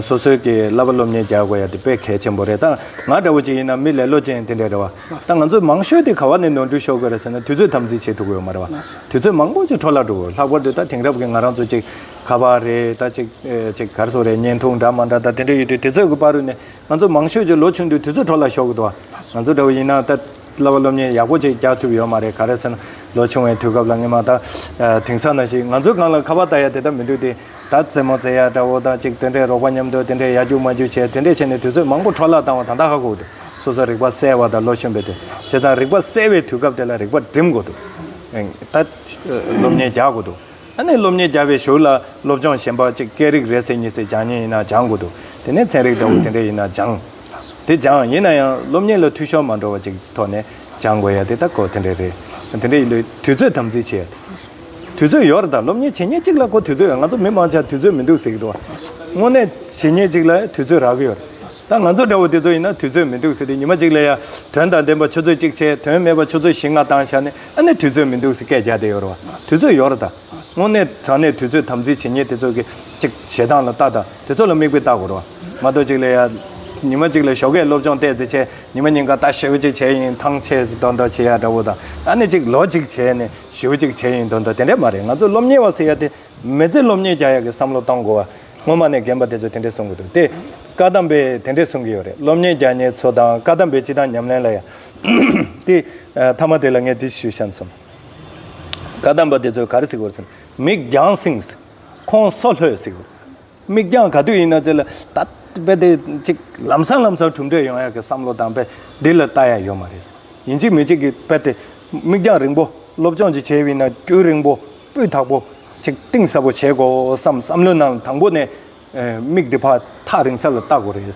སོ་སོས་ཀྱི་བསླབ་པ་སློབ་གཉེར་རྒྱག་དགོས་ཡ་དེ་དཔེ་གལ་ཆེན་པོ་རེད་ད། ང་འདྲ་བོ་ཅིག་ཡིན་ན་མི་ལེ་ལོ་ཅན་དེ་འདྲས་རེད་བ། ད་ང་ཚོས་མང་ཤོས་དེ་ག་བ་ནས་ནོར་འཁྲུལ་ཤོར་དགོས་རེད་ཟེར་ན་དུས་ཚོད་དམ་འཛིན་བྱེད་ཐུབ་གི་ཡོད་མ་རེད་བ། དུས་ཚོད་མང་པོ་ཅིག་འཕྲོ་བརླག་འགྲོ་གི་ལྷག་པར་དུ་ད་དེང་རབས་ཀྱི་ང་རང་ཚོ་ཅིག་ག་བ་རེད་ད་ཅིག་ཅིག་གར་སོང་རེད་བརྙན་ཐུང་འདྲ་མ་འདྲ་ད་དེ་འདྲས་ཡོད་དུས་དེ་ཚོས་ཀྱི་པར་རུས་ནས་ང་ཚོ་མང་ཤོས་ཅིག་ལོ་ཆུང་དུས་དུས་ཚོད་འཕྲོ་བརླག་ཤོར་གི་འདུག་བ། ང་ཚོ་འདྲ་བོ་ཡིན་ན་ད་བསླབ་པ་སློབ་གཉེར་ཡག་པོ་ཅིག་རྒྱག་ཐུབ་ཡོད་མ་རེད་ག་རེད་ཟེར་ན་ལོ་ཆུང་བའི་དུས་སྐབས་ལ་སྔེ་མ་ད། དེང་སང་ན་ཞིག་ང་ཚོའི་སྒང་ལ་ག་བ་ད་ཡ་དེ་ད་མི་འདུག་སྟེ། ད་རྩེད་མོ་རྩེ་ཡ་དགྲ་བོ་དང་གཅིག་དེ་འདྲའི་རོགས་པ་མཉམ་དུ་དེ་འདྲའི་ཡ་རྒྱུག་མ་རྒྱུག་བྱས་དེ་འདྲས་བྱས་ནས་དུས་ཚོད་མང་པོ་འཕྲོ་བརླག་བཏང་བ་ད་ལྟ་ཧ་གོ་འདུག་སོ་སོ་རིག་པ་གསལ་བ་དང་ལོ་གཞོན་པའི་དུས་བྱས་ཙང་རིག་པ་གསལ་བའི་དུས་སྐབས་དེ་ལ་རིག་པ་སྒྲིམ་དགོས་འདུག་ད་སློབ་གཉེར་རྒྱག་དགོས་འདུག་ད་ནས་སློབ་གཉེར་རྒྱག་པའི་ཞོར་ལ་སློབ་སྦྱོང་གཞན་པ་གཅིག་སྐད་རིགས་རེ་ཟེར་གཉིས་ཟེར་སྦྱང་ཉེན་ཡིན་ན་སྦྱང་དགོས་འདུག་དེ་ནས་ཚན་རིག་འདྲ་བོ་དེ་འདྲས་ཡིན་ན་སྦྱང། དེ་སྦྱང་ཡིན་ན་ཡང་སློབ་གཉེར་ལ་འཐུས་ཤོར་མ་འགྲོ་བ་གཅིག་ཐོག་ནས་སྦྱང་དགོས་ཡ་དེ་ད་གོ་དེ་འདྲས་རེད་དེ་འདྲས་ཡིན་དུས་དུས་ཚོད་དམ་འཛིན་བྱེད་ཡ་དེ། དུས་ཚོད་ཡོད་རེད་ད་སློབ་གཉེར་བྱེད་ཉིན་གཅིག་ལ་ཁོ་དུས་ཚོད་ཡོད་ང་ཚོ་མི་མང་ཆགས་དུས་ཚོད་མི་འདུག་ཟེར་གྱི་འདུག་དངོས་གནས་བྱེད་ཉིན་གཅིག་ལ་དུས་ཚོད་རག་གི་ཡོད་རེད་ད་ང་ཚོ་འདྲ་བོ་དེ་ཚོ་ཡིན་ན་དུས་ཚོད་མི་འདུག་ཟེར་དུས་ཉི་མ་གཅིག་ལ་ཡ་དོན་དང་ལྡན་པ་ཆུ་ཚོད་གཅིག་བྱས་དོན་མེད་པ་ཆུ་ཚོད་བཞི་ལྔ་བཏང་བཞག་ནས་ཨ་ནི་དུས་ཚོད་མི་འདུག་ཟེར་སྐད་རྒྱག་བསྡད་ཡོད་རེད་བ་དུས་ཚོད་ཡོད་རེད་ད་དངོས་གནས་དྲང་གནས་དུས་ཚོད་དམ་འཛིན་བྱེད་ཉིན་དེ་ཚོ་གི་ཅིག་བྱེད་སྟངས་ལ་བལྟ་དང་དེ་ཚོ་ལ་མིག་དཔེ་བལྟ་དགོས་རེད་བ་མ་གཏོགས་གཅིག་ལ་ཡ་ཉི་མ་གཅིག་ལ་ཞོགས་ཀས་སློབ་སྦྱོང་བལྟས་ཚེ་བྱས་ཉི་མ་གཉིས་ཀ་ལྟ་ཞེ་བོ་གཅིག་བྱས་ཡིན་ཐང་ཆད་ཟིག་ཏོག་ཏོག་བྱེད་ཡ་འདྲ་བོ་དང་ཨ་ནི་གཅིག་ལོ་གཅིག་བྱས་ནས། ཞེའུ་གཅིག་བྱས་ཡིན་དོན་དུ་དེ་འདྲས་མ་རེད་ང་ཚོས་སློབ་གཉེར་བ་ཟེར་ཡ་དེ་མི་ཚེ་སློབ་གཉེར་རྒྱག་ཡ་གི་བསམ་བློ་གཏང་དགོས་བ་སྔོན་མ་ནས་རྒན་པ་དེ་ཚོས་དེ་འདྲས་གསུང་གི་འདུག་དེ་བཀའ་གདམས་པས་དེ་འདྲས་གསུང་གི་ཡོད་རེད་སློབ་གཉེར་རྒྱག་ཉེར་ཚོ་དང་བཀའ་གདམས་པའི་སྤྱི་དང་ཉམས་ལེན་ལ་ཡ། དེ་མཐའ་མ་དེ་ལ་ངས་འདི་ཞུ་བཤམས་སོང། བཀའ་གདམས་པ་དེ་ཚོས་ག་རེ་ཟེར་དགོས་རེད་ཟེར་ན་མིག་རྒྱང་བསྲིངས་ཟེར་ཁོང་སོ་ལྷོད་ཟེར་དགོས་རེད། མིག་རྒྱང་ག་དུས་ཡིན་ན་ཚེ་ལ་ད་རྦད་དེ་ཅིག་ལམ་སང་ལམ་སང་གྲུབ་འབྲས་ཡོང་ཡག་གི་བསམ་བློ་དང་རྦད་དེ་ལ་ལྟ་ཡག་ཡོད་མ་རེད། ཡིན་གཅིག་མིན་གཅིག་གིས་རྦད་དེ་མིག་རྒྱང་རིང་པོ་སློབ་སྦྱོང་ཅིག་བྱས་དབྱིན་ན་དཀྱུས་རིང་པོ་སྤུས་དག་པོ་ཅིག་གཏིང་ཟབ་པོ་བྱེད་དགོས་བསམ་བསམ་བློའི་ནང་ལ་དང་པོ་ནས་མིག་འདི་ཕ་ཐག་རིང་ས་ལ་ལྟ་དགོས་རེད།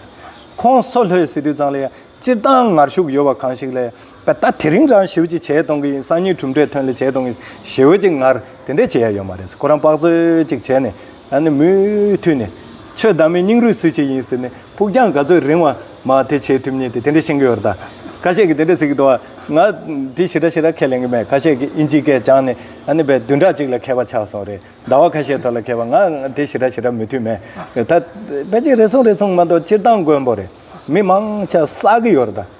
ཁོང་སོ་ལྷོའི་སི་ཏུས་ཚང་ལ་ཡང་སྤྱིར་བཏང་ངར་ཤུགས་ཡོད་པ་གང་ཞིག་ལ་ཡང་པ་ད་དེ་རིང་རང་ཞི་བ་ཅིག་བྱས་གཏོང་གི་ཡིན་སང་ཉིན་གྲུབ་འབྲས་ཐོན་ལེ་བྱས་གཏོང་གི་ཡིན་ཞི་བ་ཅིག་ངར་དེ་འདྲས་བྱེད་ཡ་ཡོད་མ་རེད་ཁོ་རང་དཔག་བཟོད་ཅིག་བྱས་ནས་ད་ནི་མུ་མཐུད་ནས་ཆོས་བདག་མེད་སྙིང་རུས་སུ་ཅིག་ཡིན་ཟེར་ནས་ཕུགས་རྒྱང་ག་ཚོད་རིང་བ་མ་དེ་བྱེད་ཐུབ་ཉེ་དེ་དེ་འདྲས་ཤེས་ཀྱི་ཡོད་རེད་ད་ཁ་ཤས་ཀྱི་དེ་འདྲས་ཟེར་གྱི་འདུག་ང་ང་དེ་ཞི་ར་ཞི་ར་ཁས་ལེན་གྱི་མེད་ཁ་ཤས་ཀྱི་ཨིན་ཇིའི་སྐད་སྦྱངས་ནས་ད་ནི་བའི་བདུན་ཕྲག་ཅིག་ལ་མཁས་པ་ཆགས་སོང་རེད་ཟླ་བ་ཁ་ཤས་ཐོག་ལ་མཁས་པ་ང་ང་དེ་ཞི་ར་ཞི་ར་མུ་མཐུད་མེད་རེད་ད་བས་ཅིག་རེ་ཟུང་རེ་ཟུང་མ་གཏོགས་སྤྱིར་བཏང་མགོན་པོ་རེད་མི་མང་ཆ་བསགས་ཀྱི་ཡོད་རེད་ད།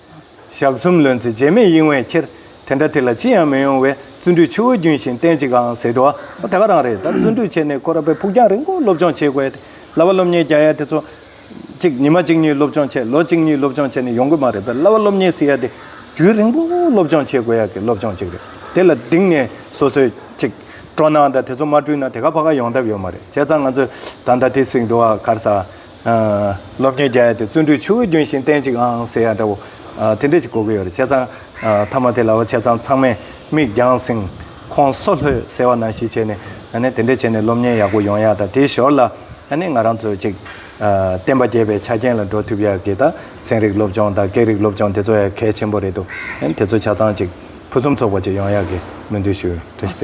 ཞག་གསུམ་ལོན་ཚེ་རྗེས་མེད་གཡེང་བས་ཁྱེར། དེ་འདྲ་དེ་ལ་ཅི་ཡང་མི་ཡོང་བས་བརྩོན་འགྲུས་ཆུ་བོ་རྒྱུན་བཞིན་བརྟན་ཅིག་གང་ཟེར་དུ། དེ་ག་རང་རེད་ད་བརྩོན་འགྲུས་ཆེ་ནས་ཁོ་ར་པའི་ཕུགས་རྒྱང་རིང་པོ་སློབ་སྦྱོང་བྱེད་དགོས་ཏེ། གླ་བ་སློབ་གཉེར་རྒྱག་ཡ་དེ་ཚོ། གཅིག་ཉི་མ་གཅིག་གཉིས་སློབ་སྦྱོང་བྱས་ལོ་གཅིག་གཉིས་སློབ་སྦྱོང་བྱས་ནས་ཡོང་གི་མ་རེད་པས་གླ་བ་སློབ་གཉེར་ཟེར་ཡ་དེ། རྒྱུན་རིང་པོ་སློབ་སྦྱོང་བྱེད་དགོས་ཡ་གི་སློབ་སྦྱོང་ཅིག་རེད། དེ་ལ་གདིང་ནས་སོ་སོས་གཅིག། སྤྲོ་སྣང་དང་དེ་ཚོ་མ་བསྐྲུན་ན་དེ་ག་ཕ་ག་ཡོང་ཐབས་ཡོད་མ་རེད་བྱས་ཙང་ང་ཚོས་ད་ལྟ་དེ་གསེང་དུ་ཨ་གར་ས། སློབ་དཔོན་རྒྱ་ཡེ་དེ་བརྩོན་འགྲུས་ཆུ་བོའི་རྒྱུན་བཞིན་བརྟན་ཅིག་ཨང་ཟེར་ཡ་འདྲ་བོ། དེ་འདྲས་ཅིག་གོ་གི་ཡོད་རེད་བྱས་ཙང། མཐའ་མ་དེ་ལ་བྱས་ཙང་ཚང་མས་མིག་རྒྱང་བསྲིངས། ཁོང་སོ་ལྷོད་ཟེར་བ་ན་ཞིག་བྱས་ནས། དེ་འདྲས་བྱས་ནས་སློབ་གཉེར་ཡག་པོ་ཡོང་ཡག་ད་དེའི་ཞོར་ལ། ང་རང་ཚོས་ཅིག། བསྟན་པ་རྒྱས་པའི་ཆ་རྐྱེན་ལ་འགྲོ་ཐུབ་ཡག་གི་ད་ཚན་རིག་སློབ་སྦྱོང་དང་སྐད་རིགས་སློབ་སྦྱོང་དེ་ཚོ་ཡང་གལ་ཆེན་པོ་རེད་དོ། དེ་ཚོ་བྱས་ཙང་ཅིག་ཕུན་སུམ་ཚོགས་པ་ཅིག་ཡོང་ཡག་གི་སྨོན་འདུན་ཞུ། དེ་ནས་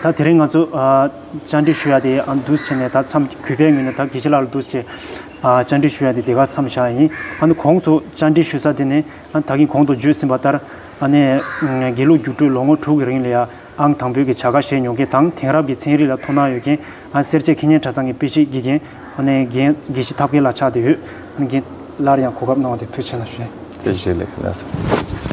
ད་དེ་རིང་ང་ཚོ། བཅར་འདྲི་ཞུ་ཡ་དེ་འདུ་བྱེད་ནས་ད་མཚམས་གུས་པས་ངོས་ནས་ད་གེ་ཆེ་ལགས་ལ་འདུ་བྱེད་བཅར་འདྲི་ཞུ་ཡ་དེ་དེ་ག་མཚམས་བཞག་ཡིན་ཨ་ནི་གོང་དུ་བཅར་འདྲི་ཞུ་ས་དེ་ནི་ད་གིན་གོང་དུ་བརྗོད་ཟིན་པ་ལྟར་ཨ་ནི་དགེ་ལུགས་སྒྱུ་འཕྲུལ་ལོ་ངོ་དྲུག་གི་རིང་ལ་ཡ་ཨང་དང་པོའི་གི་བྱ་དགའ་བཞེས་མྱོང་མཁན་དང་དེང་རབས་ཀྱི་ཚན་རིག་ལ་དོ་སྣང་ཡོད་མཁན་ཨ་སེར་བྱེས་ཁེ་ཉེན་གྲྭ་ཚང་གི་དཔེ་བཤེར་དགེ་རྒན་ཨ་ནི་དགེ་བཤེས་ཐབས་མཁས་ལ་ཆགས་བསྡད་ཡོད་ཨ་ནི་དགེ། སླར་ཡང་གོ་སྐབས་གནང་བ་དེ་མཐུ་ཆེ་ལ་ཞུ། དེ་བཞིན་ལེགས་ན་སྲིད།